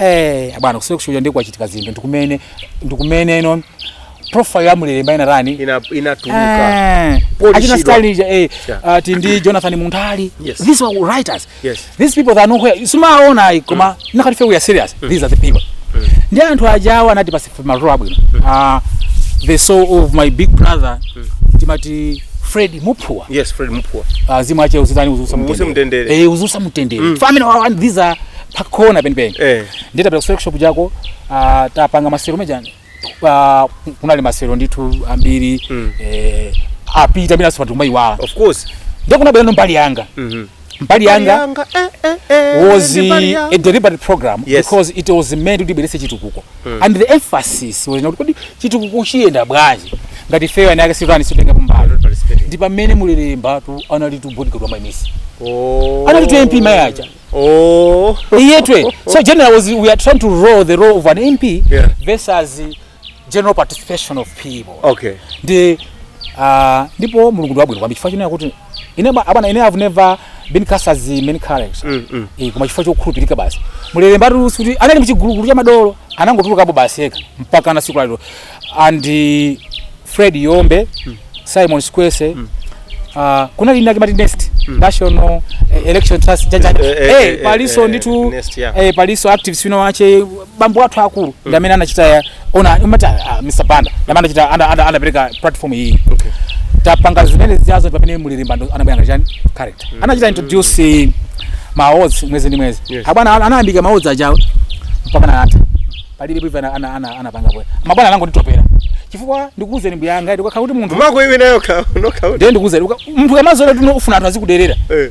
eh abwana kusiwe kushuja ndi kochitika zinthu ndikumene ndikumene no profile ya amene analemba ina rani ina inatuluka Eh, Paul achina Chirwa. style ija eh Yeah. ati ndi Jonathan Muntali Yes. these were writers Yes. these people that are nowhere simuwaona ayi koma tikati if we are serious these are the people ndi anthu ajawa anati pa ma role abwino Ah, the soul of my big brother timati Fred Muphuwa yes Fred Muphuwa Ah, mzimu wake uzitani uziusa Uwuse mtendere. Eh, uziusa mtendere famine wa and these are pakona penipeni Eh. nditapita workshop ijayo ah, tapanga masewero aja ah, kunali masewero ndithu ambiri eh, apita nthawi zina pa timaiwala of course ndikuona bwino mbali yanga Mhm. mbali yanga Yanga, eh, eh, eh, was ndi mbali yanga. a deliberate program Yes. because it was meant kuti ibweretse chitukuko and the emphasis was kuti kodi chitukuko chiyenda bwanji ngati ifeyo eni ake sitani sitenga kumbali Participating. ndi pamene mulelembatu analitu bodyguard wa maimisi Oh. analitu mp mayaja Oh. iyetwe so general was we are trying to roll the role of an mp Yeah. versus general participation of people okay ndi uh, ndipo mulungu ndi wabwino kwambiri chifukwa chinena kuti ine ba- abwana ine have never been cast as a main character Mm, mm. Eh, koma chifukwa chokhulupirika basi mulelembatu sikuti anali mchigulugulu cha madolo anangotulukapo basi yekha mpaka na tsiku lalero and eh, fred yombe simon sikwese Uh, kunali inayake amati nest national eh, election trust jaja Eh, eh, eh, eh, eh, palinso eh, nditu Nest, yeah. eh, palinso activist wina wache bambo athu akulu ndi amene anachita ya- ona umati ah, Mr Banda ndi amene anachita ana- ana- anapereka platform iyi Okay. tapanga zimene zijazo pamene mulelemba ndo anabwera ngati chani character anachita introduce ma awards mwezi ndi mwezi Yes. abwana ana- anayambika ma awards ajawo mpaka anatha palibe bwiva ana- ana- ana- anapanga bwe mabwana anangonditopera chifukwa ndikuuzeni mbuyanga ndikakhala kuti munthu Mako iwe nayo ka, no ka. ndiye ndikuuzeni uka- munthu kamazola tuno ufuna anthu azikuderera. Eh.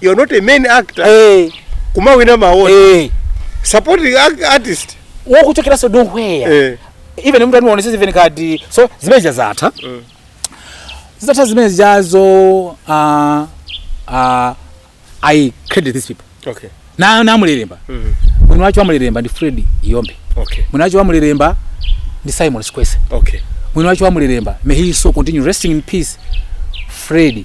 you are not a main actor eh kumawina ma award eh supporting ac- artist wokuchokeranso nowhere eh even munthu animuonese even kadi so zimene zija zatha Mm. zitatha zimene zijazo uh, uh, i credit these people okay na na mulelemba mm mwini wache wa mulelemba ndi fred yombe okay mwini wache wa mulelemba ndi simon sikwese okay mwini wache wa mulelemba may his soul continue resting in peace fred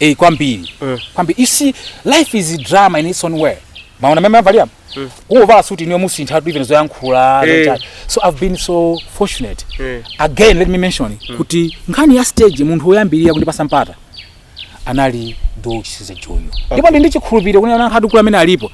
eh kwambiri Mm. kwambiri you see life is a drama in its own way mwaona mmene avalira mm. muvala suti inuyo musinthatu even zoyankhula Eh. zochani. so i've been so fortunate Eh. again let me mention kuti nkhani ya stage munthu woyambirira kundipasa mpata anali du chisiza junior ndipo ndi ndichikhulupiriro kunena anthu akulu amene alipo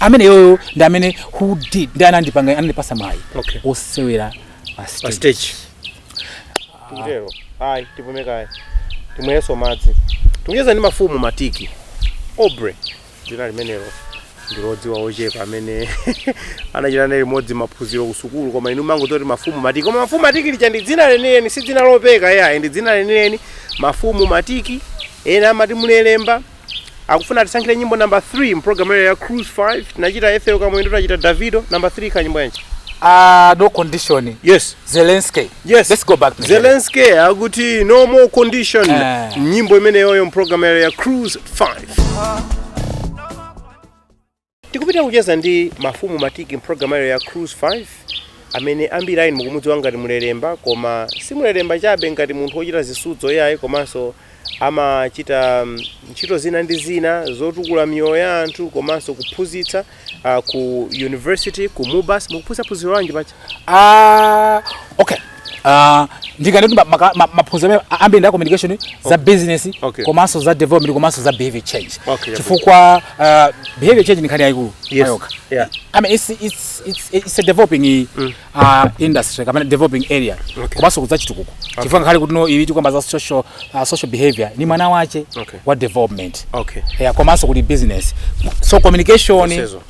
ameneyoyo ndi amene who did ndi anandipanga anandipasa mwayi Okay. osewera pa pa stage stage tikutero ayi tipume kaye timwenso madzi tikucheza ndi mafumu matiki aubrey dzina limenelo ndilodziwa ochepa amene anachita naye limodzi maphunziro ku sukulu koma inu mumangoti mafumu matiki koma mafumu matiki lija ndi dzina lenileni si dzina lopeka iyayi ndi dzina lenileni mafumu matiki ena amati mulelemba akufuna atisankhire nyimbo number 3 mprogramu yayo ya cruise 5 tinachita ethel kamwendo tachita davido number 3 ka nyimbo yanji Ah, no condition. yes Zelensky. Yes. Let's go back. to zelensky akuti no more condition Eh. nyimbo imeneyoyo mprogramu yayo ya cruise 5 Tikupita kucheza ndi Mafumu Matiki m'programu ya lero ya Cruise 5 amene ambiri a inu mukumudziwa ngati Mulelemba koma si Mulelemba chabe ngati munthu wochita zisudzo iyayi komanso amachita mm, ntchito zina ndi zina zotukula miyoyo ya anthu komanso kuphunzitsa ah, ku university ku Mubas mukuphunzitsa phunziro lanji paja Ah, okay. Ah, ndikanati ma- maka- ma- maphunziro amene a- ambiri ndi a communication za business Okay. komanso za development komanso za behavior change Okay, chifukwa ah, behavior change ndi nkhani yayikulu Yes. mayoka Yeah. I mean, it's, it's, it's, it's a developing uh, industry kapena developing area Okay. komanso ku za chitukuko chifukwa ngakhale kuti no iwiti kukamba za social, uh, social behavior ni mwana wache Okay. wa development Okay. yeah, komanso kuli business so communication Zonsezo.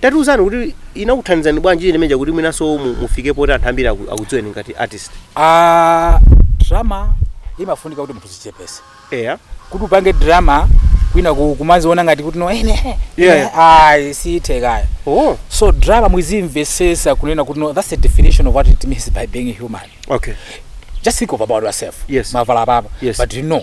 Tatiuzani kuti inakuthandizani bwanji imene ija kuti mwinanso mu- mufike poti anthu ambiri aku- akudziweni ngati artist. Ah, drama imafunika kuti munthu uzichepese Eya. kuti upange drama kwina ku- kumaziona ngati kuti no ine Yeah. ayi sizitheka ayi Oh, so drama muzimvesesa kunena kuti no that's the definition of what it means by being human okay. just think of about yourself Yes. mavala papa Yes. but you know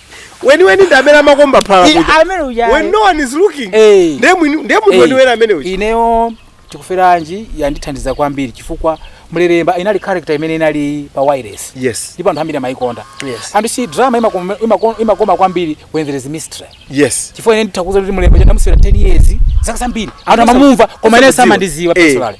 weniweni ndi amene amakomba phala I- kuja amene uja when no one is looking Eh. ndiye mwini- ndiye munthu Eh, weniweni amene uja ineyo Tikuferanji yandithandiza kwambiri chifukwa mlelemba inali character imene inali pa wireless yes ndipo anthu ambiri amayikonda Yes. and you see drama imakoma, imakoma, imakoma kwambiri when there is mystery yes chifukwa ine nditha kukuuza kuti mlelemba uja ndamusewera 10 years zaka zambiri anthu amamumva koma ine samandiziwa Eh. personally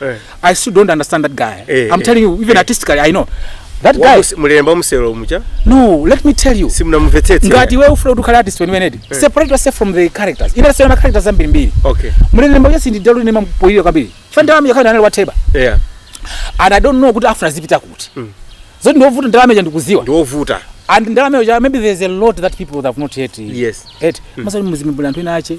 Eh. I still don't understand that guy. Eh, I'm eh, telling you, even eh. artistically, I know. That guy. Mulemba muselo mucha? No, let me tell you. Simna mvetete. Ngati wewe ufuna kukhala artist when wenedi. Eh. Separate yourself from the characters. Ina sio na characters zambiri mbili. Okay. Mulemba yesi ndi dalu ni mampoilio kabili. Fanda wami yakana anali wateba. Yeah. And I don't know kuti afuna zipita kuti. Mm. Zodi ndio vuta ndalama ya ndikuziwa. Ndio vuta. And ndalama ya maybe there's a lot that people have not yet. Yes. Yet. Mm. Masali muzimibula ntwina ache.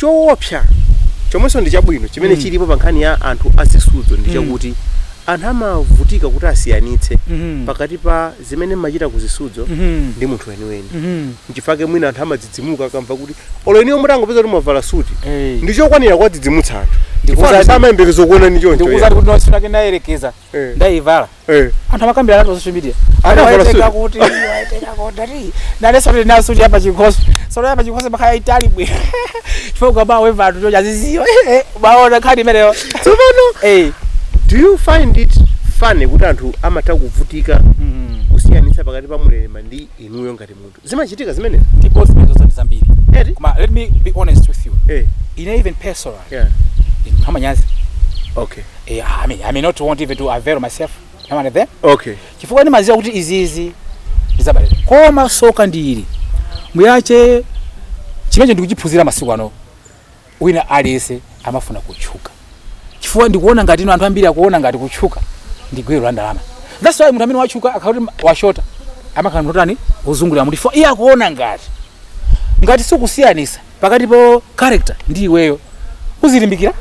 Choopsa chomwenso ndi chabwino chimene Mm. chilipo pa nkhani ya anthu a zisudzo ndi Mm. chakuti anthu amavutika kuti asiyanitse Mhm. pakati pa zimene mmachita ku zisudzo Mhm. ndi munthu weniweni Mhm. nchifake mwina anthu amadzidzimuka akamva kuti olo inuyo mutangopeza kuti mwavala suti Eh. ndi chokwanira kuwadzidzimutsa anthu Ndikuwuzani- chifukwa samayembekeza kukuonani choncho ndikuuzani kuti no tsiku lina ndinayerekeza Eh. ndaivala Eh. anthu amakambirana nazo social media Ana Waiteka parasuti. kuti waiteka kodari nane sote na suti apa chikhosi sote apa chikhosi bakaya itali bwe chifukwa ba weva anthu chocha ziziyo baona khadi imeneyo tsopano eh do you find it funny kuti anthu amatha kuvutika kusiyanitsa pakati pa Mulelemba ndi inuyo ngati munthu zimachitika zimenezi ndipo mbiri zosati zambiri eti koma let me be honest with you eh ine even personal yeah wamanyazi okay eh, I mean, I may not want even to avail myself now and then okay chifukwa ndimaziwa kuti izizi ndizabalira koma soka ndili muyache chimenecho ndikuchiphunzira masiku ano Wina aliyense amafuna kutchuka chifukwa ndikuona ngati ino anthu ambiri akuona ngati kutchuka ndi gwero la ndalama. That's why munthu amene watchuka akakhala kuti washota amakhala munthu otani wozungulira mutu chifukwa iye akuona ngati ngati sukusiyanisa pakati pa character ndi iweyo uzilimbikira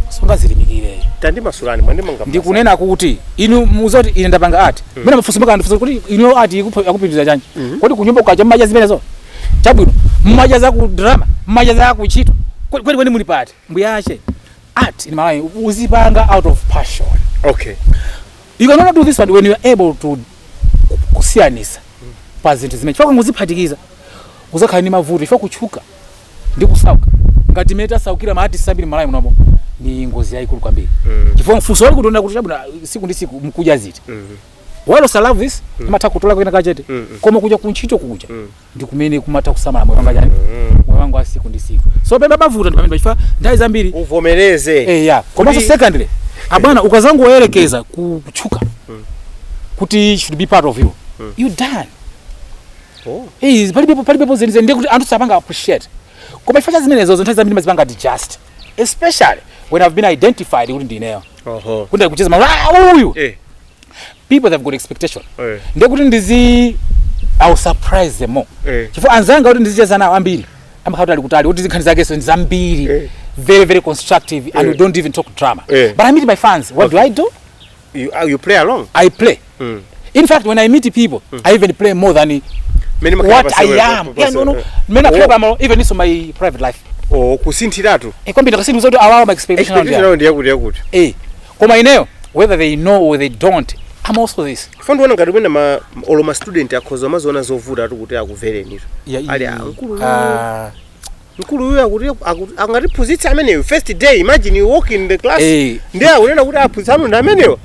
sungazilimbikire tandimasulani mwandimanga ndikunena kuti inu muza kuti ine ndapanga art mmene mafunso maka andifunsa kuti inu art ikupo- akupitiriza chanji kodi kunyumba kukacha mmadya zimenezo chabwino mmadya za ku drama mmadya za ku ntchito Kwe- kweli kweli muli pati mbuyache art in malawi udzipanga out of passion okay you cannot do this one when you are able to kusiyanisa pa zinthu zimene chifukwa kungoziphatikiza udzakhala ndi mavuto chifukwa kutchuka ndi kusauka ngati mmene tasaukira ma artist ambiri malawi munomo ndi ngozi yayikulu kwambiri chifukwa mfunso wali kutonda kuti chabwino tsiku ndi tsiku nkudya ziti whereas love of this amatha kutola kwina kachete Mm, mm. koma kuja kuntchito kuja Mm. ndi kumene kumatha kusamala moyo wanga chani Mm. moyo wanga wa tsiku ndi tsiku so pamene pamavuta ndi pamene chifukwa nthawi zambiri uvomereze eh ya komanso Kuti- secondly abwana ukadzangoyerekeza ku- kutchuka kuti it should be part of you you done Oh. Eh, palibepo palibepo zenizeni ndiye kuti anthu sakupanga appreciate koma chifukwa cha zimenezo zinthu zambiri ndimazipanga digest especially when i've been identified kuti ndineyo Oho. kunde kucheza ma "Ah, uyu Eh. people have got expectation Eh. ndiye kuti ndizi I'll surprise them more Eh. chifukwa anzanga kuti ndizicheza nawo ambiri amakhala kuti ali kutali kuti zinkhani zake so ndi zambiri Eh. very very constructive and Eh. we don't even talk drama Eh. but I meet my fans what do I do You, ah, you play along. I play Mm. In fact, when I meet people, mm. I even play more than Many what I am. Yeah, no, no. Eh. Many oh. club, I'm even into my private life. Oh, kusinthiratu. Eh, kwambiri ndakasinthu zoti awawa my expectation round. Expectation round yakuti yakuti. Eh. Koma ineyo whether they know or they don't, I'm also this. Fandu wana ngati mwina ma olo ma student akhoza maziona zovuta atu kuti akuvereni. Yeah, ali ankulu. Ah. mkulu uyu akuti akuti- angatiphunzitse ameneyo first day imagine you walk in the class Eh. ndiye akunena kuti aphunzitsi anu ndi ameneyo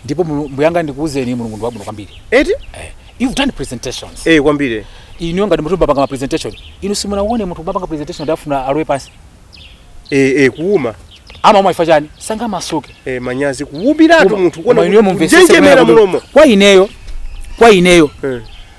ndipo Mulungu- mbuyanga ndikuwuzeni mulungu ndi wabwino kwambiri eti Eh, you've done presentations eh kwambiri inu ngati munthu mwapanga ma presentation inu simunawone munthu akupanga presentation kuti afuna alowe pansi eh eh kuuma ama chifukwa chani sanga masuke eh manyazi kuwumiratu munthu kuona kuti kunjenjemera mulomo kwa ineyo kwa ineyo eh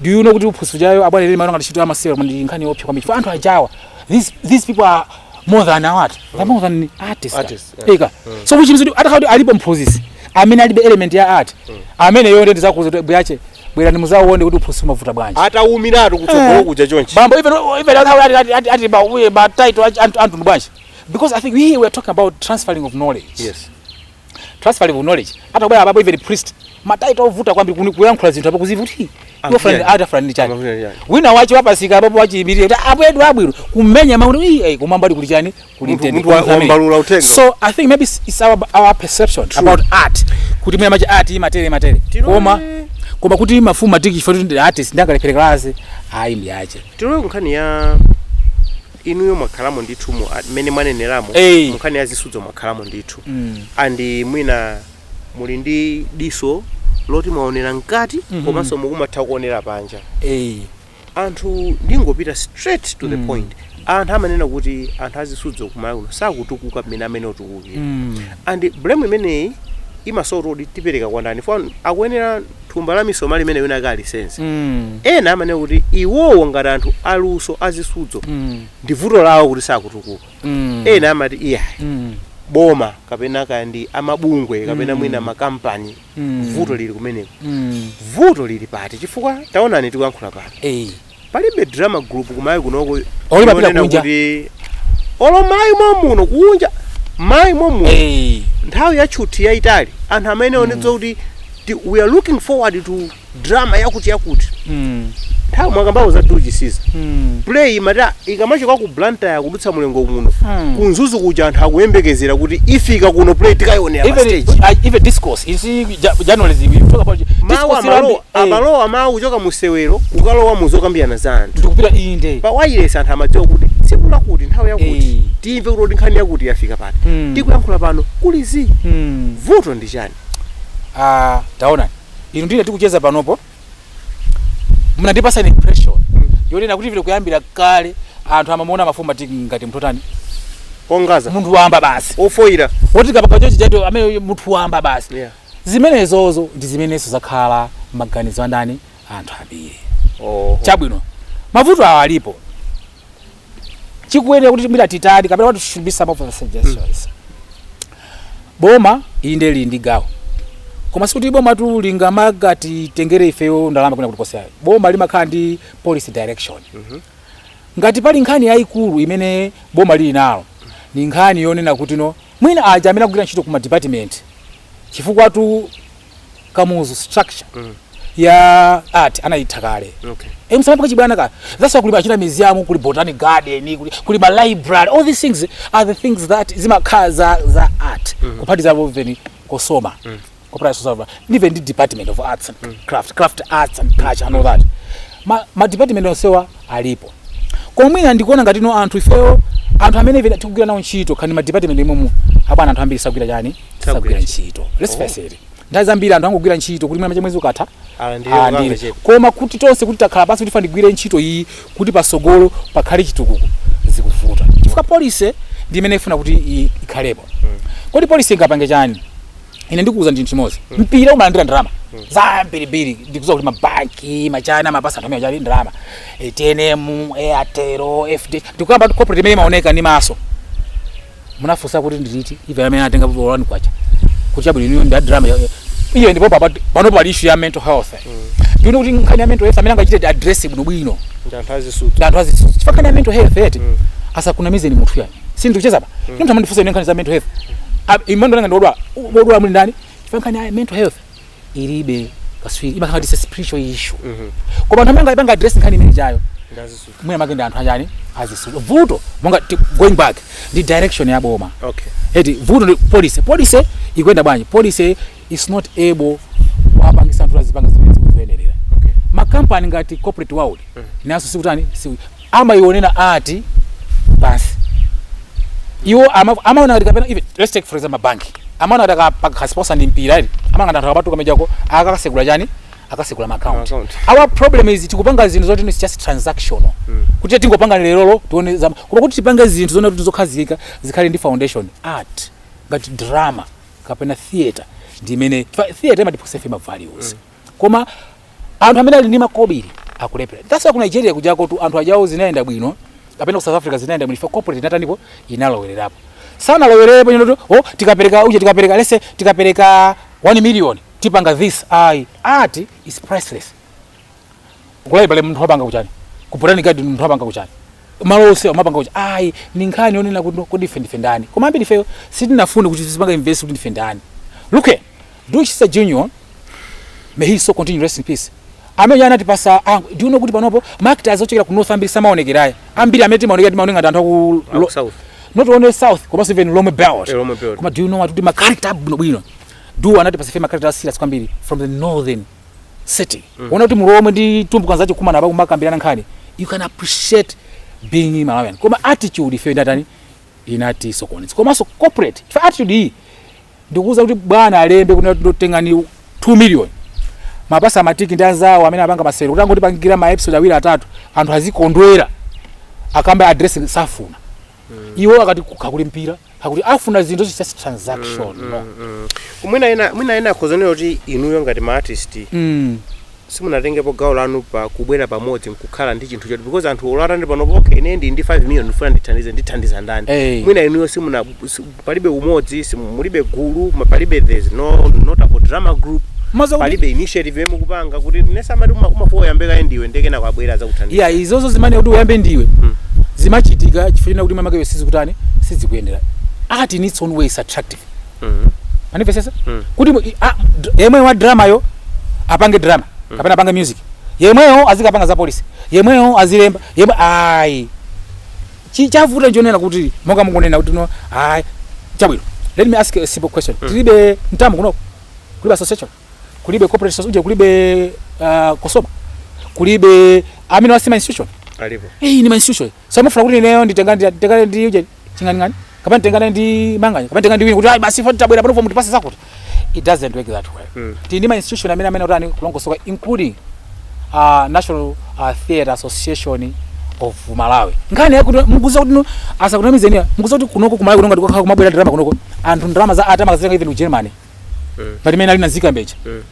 do you know kuti uphunzitsi chayo abwana lili mara ngati ntchito yamasewera koma ndi nkhani yoopsa kwambiri chifukwa anthu ajawa these these people are more than what they're more than artists Artists, yeah. eya so which means kuti atakhala kuti alipo mphunzitsi amene alibe element ya art ameneyo nde ndidzakuuza kuti mbuyache bwerani mudzawone kuti uphunzitsi umavuta bwanji atawumiratu kutsogolo kuja chonchi bambo even even ati ati ati ati ba we ba title antu antu bwanji because i think we were talking about transferring of knowledge yes transfer of knowledge atakubwera apapo even priest imatha kukhala ovuta kwambiri kuni- kuyankhula zinthu apo kuzivuti Ambuye. atafulani chani Ambuye, yeah. wina wache wapatsidwa apapo wachiyimilira kuti abwedu abwino kumenya makuti "Ii, eh, koma mbali kuli chani kuli Munthu- mtende, munthu wa- kuli amene." wambalula uthenga. so i think maybe it's- it's our, our perception about art kuti mwina art imatere matere koma koma kuti mafumu matiki chifukwa kuti ndi artist sangalephere kalasi ayi mbuyache tilowe kunkhani ya inuyo mwakhalamo ndithu mu a- mmene mwaneneramo Eh. munkhani ya zisudzo mwakhalamo ndithu Mm. and mwina muli ndi diso loti mwaonera mkati Mhm. komanso mukumatha kuonera panja Eh. anthu ndingopita straight to the Mm. point anthu amanena kuti anthu azisudzo kumalawi kuno sakutukuka mmene ena akutukukira Mm. and blame imeneyi imasowa kuti tipereke kwa ndani fo akuyenera thumba la misomali limene wina wake alisenze Mm. ena amanena kuti iwowo ngati anthu aluso azisudzo Mm. ndi vuto lawo kuti sakutukuka Mm. ena amati iyayi Mm. boma kapena kaya ndi mabungwe kapena Mm. mwina makampani Mm. vuto lili kumeneko Mm. vuto lili pati chifukwa taonani tikuyankhula pano Eh. palibe drama group kumayi kunoko Olo mapita yonena kunja. kuti olo mayi momuno kunja mayi momuno Eh, nthawi ya tchuthi yayitali anthu amaonetsa kuti ti- we are looking forward to drama yakuti yakuti mm, nthawi mwakambapo za Du Chisiza mm, play imata ikamachoka ku Blantyre kudutsa muLilongwe muno Mm. ku Mzuzu kuja anthu akuyembekezera kuti ifika kuno play tikayionera pa even stage uh, even discourse you see ja- journalism you talk about mawu discourse amalowa ilambi- amalowa mawu kuchoka mu sewero kukalowa mu zokambirana za anthu ndikupita inde pa wayilesi anthu amadziwa kuti tsiku lakuti nthawi yakuti Eh. timve kuti nkhani yakuti yafika pati Mm. tikuyankhula pano kuli zii Mm. vuto ndi chani Ah, taona inu ndi ine tikucheza panopo munandipatsa ndi impression yonena kuti vile kuyambira kale anthu amamuona Mufunanji ngati munthu otani ongadza munthu wamba basi ofoira woti kapaka chochi chaito amene munthu wamba basi Yeah. zimenezozo ndi zimenenso zakhala maganizo a ndani a anthu ambiri Oho. chabwino mavuto awa alipo chikuyenera kuti mwina titani kapena what should be some of the suggestions boma inde lili ndi gawo koma sikuti bomatu lingamakatitengere ifeyo ndalama kwina kulikonse ayo boma limakhala ndi policy direction ngati pali nkhani yayikulu imene boma lili nalo ni nkhani yonena kuti no Mwina aja amene akugwira ntchito ku ma department chifukwatu Kamuzu structure mm. ya art anaitha kale okay. E, samapanga chibwana kale that's why kuli machani museum kuli botanic garden kuli, kuli ma library all these things are the things that zimakhala za, za art mm. kuphatizapo even COSOMA mm. corporate social welfare, even ndi department of arts and craft craft arts and culture and all that ma, ma department onsewa alipo koma mwina ndikuona ngati no anthu ifeyo anthu amene ife tikugwira nawo ntchito kani ma department umwemu abwana anthu ambiri sagwira chani sagwira ntchito let's face it nthawi zambiri anthu angogwira ntchito kuti mwina mwezi ukatha Alandire alandire. kukanga chepe. koma kuti tonse kuti takhala pansi kuti tiyeni tigwire ntchito iyi kuti patsogolo pakhale chitukuko zikuvuta chifukwa policy ndi imene ifuna kuti i- ikhalepo kodi policy ingapange chani ine ndikuwuzani chinthu chimodzi mpira umalandira ndalama zambirimbiri ndikudziwa kuti mabanki machani amapatsa anthu amene akali ndalama Eh, TNM Airtel FDH ndikuyamba kuti corporate imene imaoneka ndi maso munafunsa kuti ndi liti ife amene atenga volani kwacha kuti chabwino inuyo ndi a drama iyo ndipo papa- panopo pali issue ya mental health ndikuona kuti nkhani ya mental health amene angachite address bwinobwino ndi anthu azisudzo ndi anthu azisudzo chifukwa nkhani ya mental health eti asakunamizeni munthu ayi sindikucheza apa munthu amandifunsa ine nkhani za mental health Ah, imeneyo nanga ndiodwala odwala muli ndani ife nkhani ya mental health ilibe katswiri imakhala kuti it's a spiritual issue koma anthu amene angapanga address nkhani imene ijayo ndi azisudzo mwina mwake ndi anthu achani azisudzo vuto monga ti- going back ndi direction ya boma okay eti vuto ndi policy policy ikuyenda bwanji policy is not able kuwapangitsa anthu azipanga zimene zikuyenerera okay makampani ngati corporate world nawonso sikutani si- amaionera art pansi iwo ama- amaona ngati kapena even let's take for example bank amaona ngati aka- akasiponsa ndi mpira uli amaona ngati anthu akapatuka mujamo akakasegula chani akasegula ma account Account. our problem is tikupanga zinthu zoti it's just transactional kuti tingopanga lerolo tione zamawa koma kuti tipange zinthu zonena kuti zokhazikika zikhale ndi foundation art ngati drama kapena theater ndi imene chifukwa theater imatipatsa ife ma values koma anthu amene ali ndi makobiri akulephera that's why ku nigeria kujakotu anthu ajawo zinayenda bwino kapena ku south africa zinayenda bwino chifukwa corporate inatanipo inalowererapo sanalowererepo ndi zoti oh tikapereka uje tikapereka lese tikapereka 1 million tipanga this ayi art is priceless kulaibale munthu wapanga kuchani ku botanic garden munthu wapanga kuchani malo onse amapanga kuchani ayi ndi nkhani yonena kuti kodi ife ndife ndani koma ambiri ifeyo sitinafune kuti tizipanga invest kuti ndife ndani look here Louis Chisa Junior may his soul continue rest in peace amene anatipatsa ah, do you know kuti panopo ma character ochokera ku north ambiri samaonekera ayi ambiri amene timaonekera timaoneka ngati anthu aku Aku lo- south. not only south komanso even lomwe belt Eh, Lomwe Belt. koma do you know what kuti ma character bwinobwino Du anatipatsa ife ma character serious kwambiri from the northern city mm. ona kuti mulomwe ndi tumbuka akukumana pa kumakambirana nkhani you can appreciate being malawian koma attitude ife inatani inatisokoneza komanso corporate ife attitude iyi ndikuuza kuti bwana alembe kuti tengani 2 million mupatse matiki ndi anzawo amene apanga masewero kuti angotipangira ma episode awiri atatu anthu azikondwera akambe address safuna iwo akati kukakhala kuli mpira akuti afuna zinthu zonse just transaction no mwina ena mwina ena akhoza kunena kuti inuyo ngati ma artist Mm. simunatengepo gawo lanu pa kubwera pamodzi nkukhala ndi chinthu choti because anthu olo ati panopo okay ine ndi ndi 5 million ndifuna ndithandize ndithandiza ndani Eh. mwina inuyo simuna si- palibe umodzi simu- mulibe gulu ma- palibe there's no notable drama group Maza kuti- palibe initiative yomwe mukupanga kuti ndimayesa amati uma- umakuwa uyambe kaye ndiwe ndiye kenako abwera adzakuthandiza ya izozo zomanena kuti uyambe ndiwe Mm. zimachitika chifukwa chonena kuti mwina mwake sizikutani sizikuyendera art in its own way is attractive Mhm. anipesesa Mm. kuti mu- i- a- d- yemwe wa drama yo apange drama kapena apange music yemweyo azikapanga za policy yemweyo azilemba yemwe ayi Chi chavuta nchonena kuti monga mukunena kuti no ayi chabwino. Let me ask a simple question. Mm. Tilibe mtamu kuno. Kulibe association. Kulibe corporate association, kulibe uh, kosoba. Kulibe amenewo ndi ma institution. Alipo. Eh, ni ma institution. So mufuna kuti ineyo nditenga nditengane ndi uje chingani ngani. Kapena nditengane ndi Manganya. Kapena nditengane ndi Winiko ayi basi foti tabwera pano fo mutipase zakuti. it doesn't work that way mm. tili ndi ma institution amene amene otani kulongosoka including uh, national uh, theatre association of malawi nkhani yakuti mukudziwa kuti asakunamizeni mukudziwa kuti kunoko kumalawi kuno ngati kukakhala kumabwera ndalama kunoko anthu ndalama za art amakazitenga even ku germany mm. pamene alinazikambe cha mm.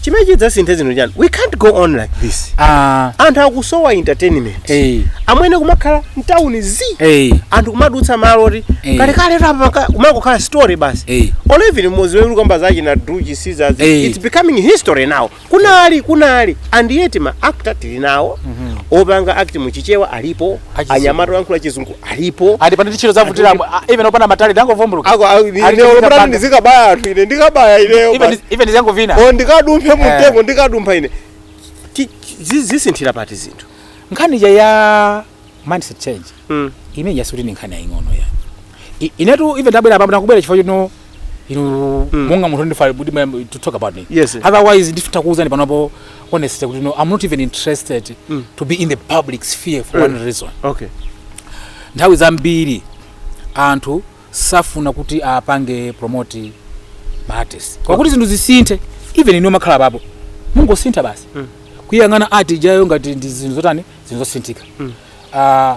chimene chidzasinthe zinthu nchani we can't go on like this ah anthu akusowa entertainment eh amwene kumakhala mtawuni zi eh anthu kumadutsa malo oti Eh. kalekale apa kumangokhala story basi eh or even mu zisudzo kukamba za China Du Chisiza Eh. it's becoming history now kunali kunali and yet ma actor tili nawo opanga act muchichewa alipo Achizungu. anyamata oyankhula chizungu alipo andipana ndichita zovutira even opana matayi ndangovumbuluka ako ali ine chipinda olo pena ndizikabaya anthu ine ndikabaya ineyo even basi. even ndizangovina o ndikadumphe mumtengo ndikadumpha ine Ti- zi- zisinthira pati zinthu nkhani ija ya mindset change Mm. imene ija sikuti ni nkhani yaying'ono ya I- inetu even ndabwera pamwe ndakubwera chifukwa chino inu mm. monga munthu ndifuna kuti mayam- to talk about me Yes, sir. otherwise nditha kukuuzani panopo honestly kuti no i'm not even interested mm. to be in the public sphere for mm. one reason okay nthawi zambiri anthu safuna kuti apange promote maartist kwakuti zinthu zisinthe even inu mumakhala apapo mungosintha basi kuyang'ana art ijayo ngati ndi zinthu zotani zinthu zosintha Ah,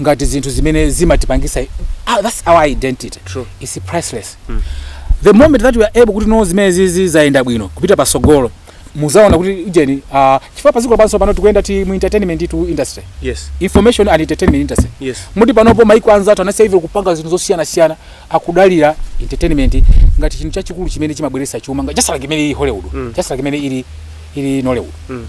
ngati zinthu zimene zimatipangisa ah, that's our identity True. it's priceless mm. the moment that we are able kuti no zimenezizi zayenda bwino kupita pasogolo muzaona kuti ujeni uh, ah, chifukwa padziko lapansi pano tikuyenda tili mu entertainment to industry yes information and entertainment industry yes moti panopo maiko anzathu anasiya even kupanga zinthu zosiyana siyana akudalira entertainment ngati chinthu chachikulu chimene chimabweretsa chuma nga- just like imene ili hollywood Mm. just like imene ili ili nollywood Mm.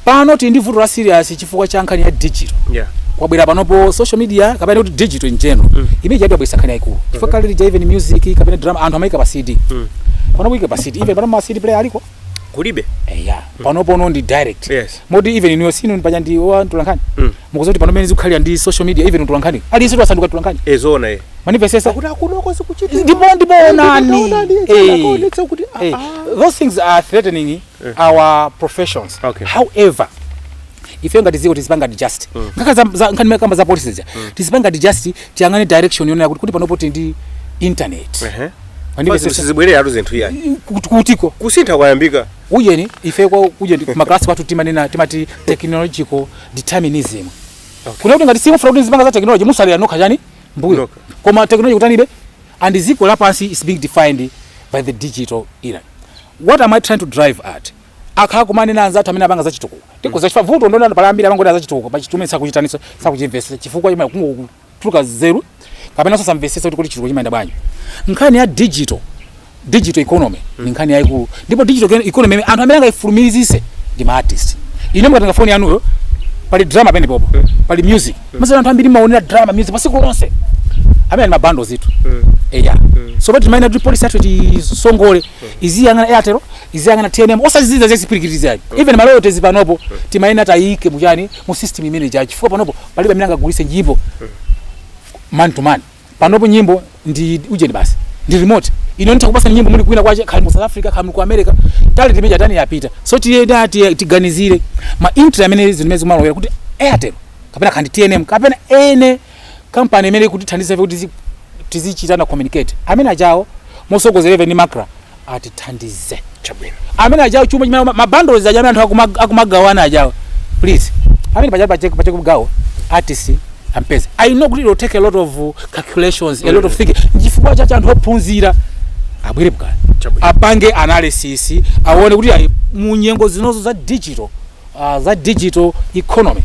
pano tili ndi vuto la serious chifukwa cha nkhani ya digital yeah kwabwera panopo social media kapena kuti digital in general Mm. imene ngati yabweretsa nkhani yayikulu chifukwa kale lija even music kapena drama anthu amayika pa cd Mm. panopo ike pa cd even pano ma cd player aliko kulibe eya panopono ndi direct Yes. moti even inuyo sinu paja ndinu atolankhani Mm. mukudziwa kuti panopa mmene zikukhalira ndi social media even utolankhani aliyense wasanduka mtolankhani eh zoona mandipezeza kuti akunoko zikuchitika ndipo ndipo onani onani, Eh. akaonetsa kuti, ah, Eh. ah. those things are threatening our professions Okay. however ife ngati dziko tizipanga digest nkhani za- za- nkhani kamba za policy zija tizipanga digest tiyang'ane direction yonena kuti kuti panopo tili ndi internet Ehe. Wandibe Basi sizibwereratu zinthu iyayi kuti- kutiko kusintha kwayambika ujeni ife kwa ujeni maklasi kwathu timanena timati technological determinism kunena kuti ngati simufuna kuti muzipanga za technology mutsalira nokha tchani mbuyo Nokha. koma technology ikutanibe and dziko lapansi is being defined by the digital era what am i trying to drive at akhala akumanena anzathu amene apanga zachitukuko tikhoza chifukwa vuto ndi loti pali ambiri amangoti za chitukuko pa chinthu chimene sakuchitaninso sakuchimvetsa chifukwa chimwe kungotuluka nzeru kapena sakumvetsetsa kuti kuti chitukuko chimayenda bwanji nkhani ya digital digital economy ndi nkhani yaikulu ndipo digital economy ime- anthu amene angaifulumizise ndi ma artist inu mukatenga foni yanuyo pali drama penapo pali music mazana anthu ambiri amaonera drama music masiku lonse amene ali ndi mabando zinthu eya so basi timayenera kuti polisi yathu tisongole iziyang'ana airtel iziyang'ana tnm osati izizi za zipirikiti ayi even maloyotezi panopo timayenera tiyike muchani mu system imene ija chifukwa panopo palibe amene angagulise nyimbo man to man panopo nyimbo ndi ujeni basi ndi remote ine nitha kukupatsani nyimbo muli kwina kwake kaya muli mu south africa kaya muli ku america talent imene ija yatani yapita so tiyenera tiye- tiganizire ma intra amene zimene zimalowera kuti airtel kapena kaya ndi tnm kapena ene kampani imene ikutithandiza ife kuti tizi- tizichitana communicate amene ajawo motsogozedwa ndi macra atithandize chabwino amene ajawo chuma chimene mabandles aja amene anthu akuma- akumagawana ajawo please amene paja pachoke pachoke mgawo artist apeze i know kuti it will take a lot of uh, calculations a lot of thinking chifukwa chake anthu ophunzira abwere bukala Chabwino. apange analysis aone kuti ayi, mu nyengo zinozo za digital uh, za digital economy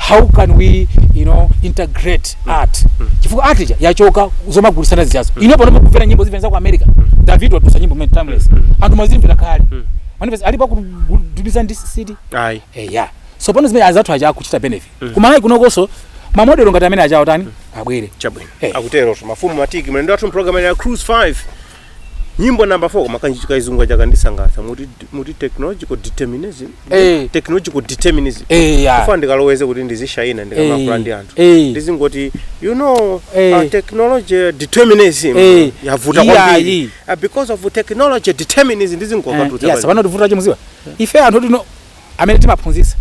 how can we you know integrate mm. art mm. chifukwa art ija yachoka zomagulisana zijazo mm. ino panopo kumvera nyimbo zina za ku america mm. david watulutsa nyimbo imene timeless mm. anthu amazimvera kale mm. manipeza alipo kudubiza ndi cd ayi eh ya so pano zimene anzathu aja akuchita benefit mm. kuMalawi kunokonso mamodelo ngati amene ajawo atani mm. abwere chabwino eh. akutero mafumu matiki mlendo wathu mpulogalamu ya cruise 5 nyimbo number 4 koma kachizungu kaja kandisangalatsa muti muti technological determinism Eh. technological determinism Eh, ya. ndikufuna ndikaloweze kuti ndizishayina ndikamayankhula Eh. ndi anthu Eh. ndizingoti you know Eh. uh, technology determinism Eh. yavuta Iya, kwambiri iyi. uh, because of technology determinism ndizingokatutsa yes pano chovuta chimodzi kwa ife anthu tino amene timaphunzitsa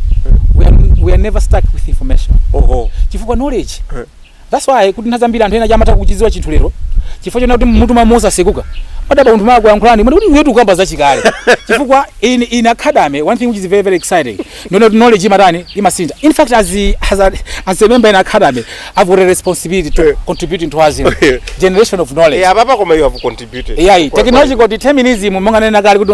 we are, we are never stuck with information oho chifukwa knowledge Eh. that's why kuti nthawi zambiri anthu enaja amatha kuchidziwa chinthu lero chifukwa chonena kuti mutu mwawo mwatsekuka amadabwa munthu akamawayankhula ndi mwana kuti iwe ukukamba zachikale chifukwa in in academia one thing which is very very exciting no no knowledge imatani imasintha in fact as a, as a, as a member in academia i've got a responsibility to Eh. contribute into as generation of knowledge Eh, apapa koma you have contributed yeah technological determinism monga ndanena kale kuti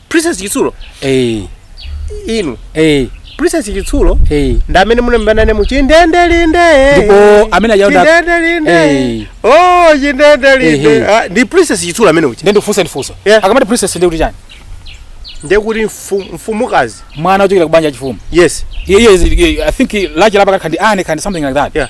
princess chitsulo eh inu eh princess chitsulo eh ndi amene munaimba naye mu chindendelinde Ndipo amene aja uda- chindendelinde Eh. oh chindendelinde Ehe. Ah, ndi princess chitsulo amene uchi ndiye ndikufunsa ndifunso Yeah. akamati princess ndiye kuti chani ndiye kuti mfu- mfumukazi mwana ochokera kubanja lachifumu yes iye iye- iye- i think lache lapa kakha ndi ane kandi something like that Yeah.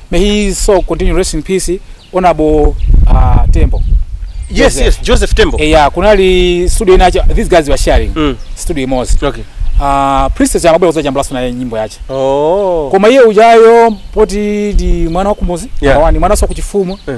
May his soul continue rest in peace honorable uh, Tembo. Yes, Joseph. yes, Joseph Tembo. Eh, yeah, kunali studio inacho these guys were sharing Mm. studio imodzi. Okay. Uh, Princess Chamabwe kuzajambulaso naye nyimbo yache. Oh. Koma iye ujayo poti ndi mwana wa kumuzi, Yeah. yeah. ni mwana wa kuchifumu. Eh.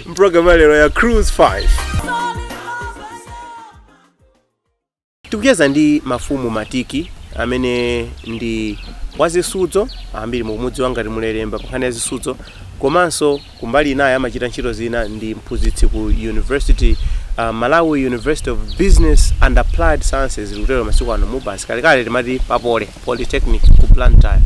Programu ya lero ya Cruise 5 tikucheza ndi mafumu Matiki amene ndi wazisudzo ambiri mukumudziwa ngati Mulelemba pankhani ya zisudzo komanso kumbali inayi amachita ntchito zina ndi mphunzitsi ku university uh, Malawi University of Business and Applied Sciences likutero masiku ano MUBAS kalekale timati pa Poly polytechnic ku blantyre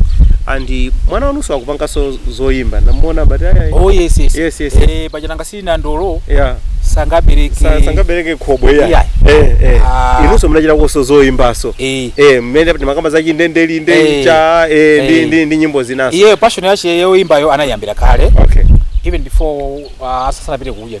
and mwana wanuso akupanganso zoyimba ndamuona but ayayi oh yes yes Yes, yes, yes. eh paja nyemba sili nandolo yeah sangabereke Sa- sangabereke khobwe ya Yeah. eh eh Ah. inunso munachitakoso zoyimbaso eh eh mmene paja timakamba za chindendelinde Eh. cha eh ndi Eh. ndi ndi nyimbo zinaso iye passion yache yoyimbayo anayambira kale okay even before uh, asasanapite kuuja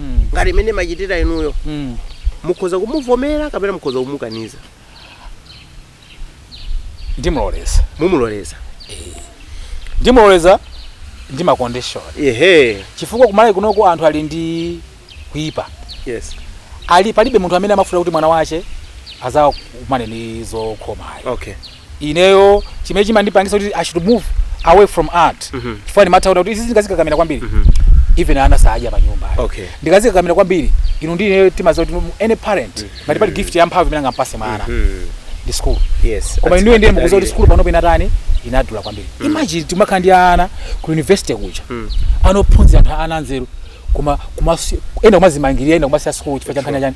ngati mmene mumachitira inuyo Mm. mukhoza kumuvomera kapena mukhoza kumukaniza ndimuloleza mumuloleza ndimuloleza ndi ma condition ehe chifukwa kumalawi kunoko anthu ali ndi kuipa yes ali palibe munthu amene amafuna kuti mwana wache azakumane ni zokhomayo okay ineyo chimene chimandipangisa kuti i should move away from art mm -hmm. chifukwa ndimatha kuona kuti izi ndikazikakamira kwambiri mm -hmm. even ana saadya panyumba okay. ndikazikakamira kwambiri inu ndi ineyo timaziwa kuti any parent mm -hmm. ngati pali gift ya mphamvu imene angampase mwana mm -hmm. ndi school yes, koma inuyo ndiye mukuziwa kuti school panopo inatani inadula kwambiri mm. imagine timakhala ndi ana ku university kuja mm. anophunzira anthu ana anzeru koma koma ena kumazimangirira ena kumasiya school chifukwa cha nkhani chani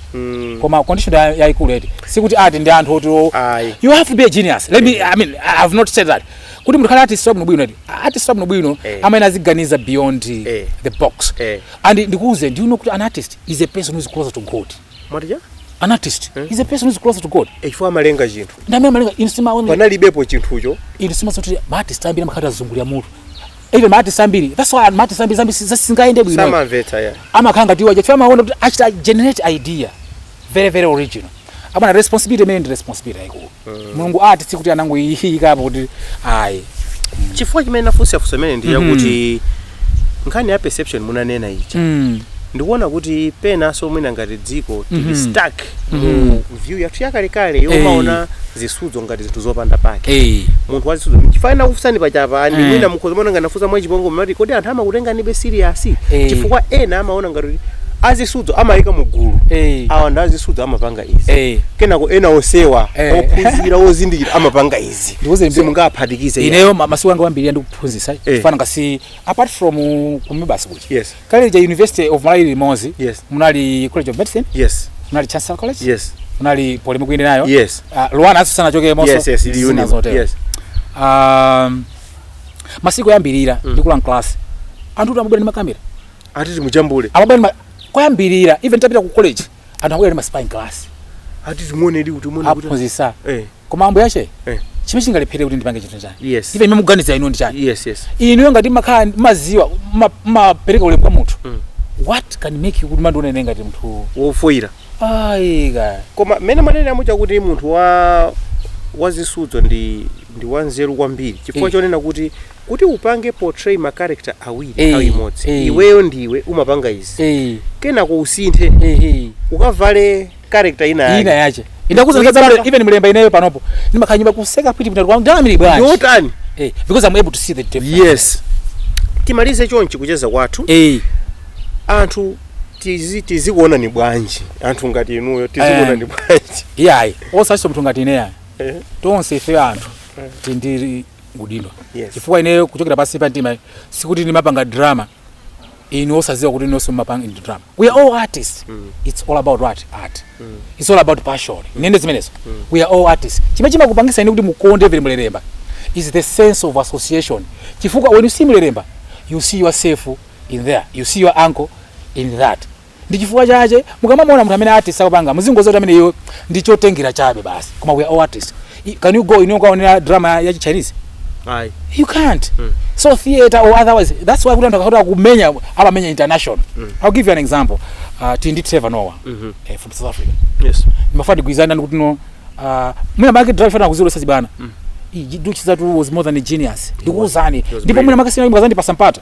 Mm. koma condition ya- yaikulu eti sikuti art ndi anthu oti o- Ayi. you have to be a genius let me i mean i have not said that kuti munthu akhale artist wabwino bwino eti artist wabwino bwino Eh. amene aziganiza beyond Eh. the box Eh. and ndikuuze do you know kuti an artist is a person who is closer to god mwatija an artist is a person who is closer to god chifukwa amalenga chinthu ndi amene amalenga panalibepo chinthucho insima zoti ma artist ambiri amakhala azungulira mutu even maartist ambiri that's why maartist ambiri zambiri zikangoyenda bwino samamvetsa ya amakhala ngati iwaje chifukwa amaona kuti achita generate idea very very original abana responsibility imene ndi responsibility yayikulu mulungu art sikuti anangoyikapo kuti ayi chifukwa chimene nafunsa funso limeneli ndi yakuti nkhani ya perception munanena ichi Mm. ndikuona kuti penanso mwina ngati dziko tili Mhm. stuck mu view yathu yakalekale Eh. yomaona zisudzo ngati zinthu zopanda pake Eh. munthu wazisudzo chifukwa nakufunsani pachapa ndi Eh. mwina mukhoza maona ngati nafunsa mwachipongwe mati kodi anthu amakutenganibe serious Eh. chifukwa ena amaona ngati kuti azisudzo amayika mu gulu Eh. awa ndi azisudzo amapanga izi Eh. kenako ena onsewa Eh. ophunzira ozindikira amapanga izi Ndikuuze mbe- simungaphatikize ineyo ma- masiku anga ambiri ndikuphunzisa Eh. chifukwa ngati apart from ku MUBAS kuchi yes kale lija university of malawi limodzi yes munali college of medicine yes munali chancellor college yes munali poly mukuenda nayo yes uh, ah, luanar asanachokemonso yes, yes, yes. um, masiku oyambirira mm. ndikulowa mklasi anthu amabwera ndi makamera ati timujambule amabwera koyambirira even tapita ku college anthu akubwera ndi ma spy mkalasi ati timuonedi kuti timuone kuti aphunzisa eh koma ambuye ache Eh. chimene chingalephere kuti ndipange chinthu nchani Yes. chimene muganiza inu ndi chani yes yes inuyo ngati makhala maziwa mapereka ulemu kwa munthu Mm. what can make you kuti mundione ine ngati munthu wofoyira ayi ka koma mmene mwanenera muja kuti munthu wa wazisudzo ndi ndi wanzeru kwambiri chifukwa Eh. chonena kuti kuti upange portray ma character awiri Eh, nthawi imodzi eh. iweyo ndiwe umapanga izi Eh. kenako usinthe Ehe. ukavale character ina yake. ina yache ndakuuza Kuipanga. ndikadzamira even mulelemba ineyo panopo ndimakhala mnyumba kuseka pwiti pita kwa ndamiri Ndi bwanji otani eh because i'm able to see the tape yes timalize chonchi kucheza kwathu eh anthu tizi- tizikuonani bwanji anthu ngati inuyo tizikuonani Eh. bwanji iyayi osatinso munthu ngati ineyo Eh. tonse ife anthu tili ndi udindo Yes. chifukwa ineyo kuchokera pansi pa mtima sikuti ndimapanga drama inu osaziwa kuti inunso mumapanga ndi drama we are all artists it's all about what art it's all about passion ndinene zimenezo we are all artists chimene chimakupangisa inu kuti mukonde vile mulelemba is the sense of association chifukwa when you see mulelemba you see yourself in there you see your uncle in that Ndi chifukwa chache mukamamuona munthu amene artist akupanga muzingoziwa kuti ameneyo ndi chotengera chabe basi koma we are all artist. I- Can you go inu kukaonera drama ya chi Chinese? Ayi. You can't. Mm. So theater or otherwise that's why kuti anthu akakhala kumenya amamenya international. Mm. I'll give you an example. Uh, Tili ndi Trevor Noah Mhm. eh, from South Africa. Yes. Mafuna tigwirizane ndi kuti no uh, mwina mwake drive chifukwa kuziro sachi bana. Mm. Du Chisiza was more than a genius. Ndikuuzani. was Ndipo mwina brilliant. mwake siku lina mukazandipasa mpata.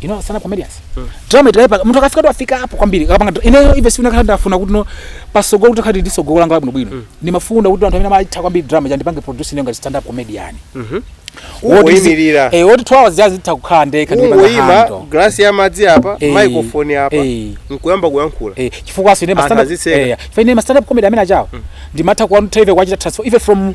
you know stand up comedians mm. drama italepa mtu akafika tu afika hapo kwambiri akapanga ine even si unakhala ndafuna kuti no pasogolo kuti khati ndisogolo langa bwino bwino mm. ndimafuna kuti anthu amene amaitha kwambiri drama ja ndipange produce ngati stand up comedian mm -hmm. Woyimirira. Eh, woti 2 hours just nditha kukhala ndeka ndi Woyima glass ya madzi apa, eh, microphone apa. Eh. Nkuyamba kuyankhula. Eh, chifukwa aso ine ma stand up. Eh, chifukwa ine ma stand up comedy amene achawo. Mm. Ndimatha kuwanu trade kuwachita transfer even from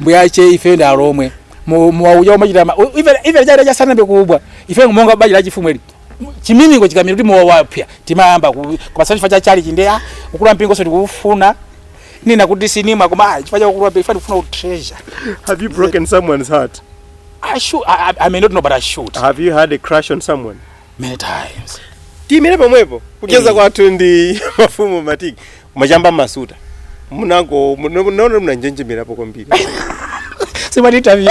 mbuyache ife ndi alomwe mwakuja kumachita ife chaja asanayambe kumwa ife monga banja la chifumu ili chiminingo chikamira kuti mowa wapya timayamba kupatsa chifa cha chali chinde ah, ukulu wa mpingo so tikufuna ninena kuti sindimwa koma ah, chifukwa cha ukulu mpingo tikufuna u treasure have you broken someone's heart I should I, I, I may not know but I should have you had a crush on someone many times tiimire pomwepo kucheza kwathu ndi mafumu matiki machamba masuta munangoti munaona munanjenjemerapo kwambiri si ma interview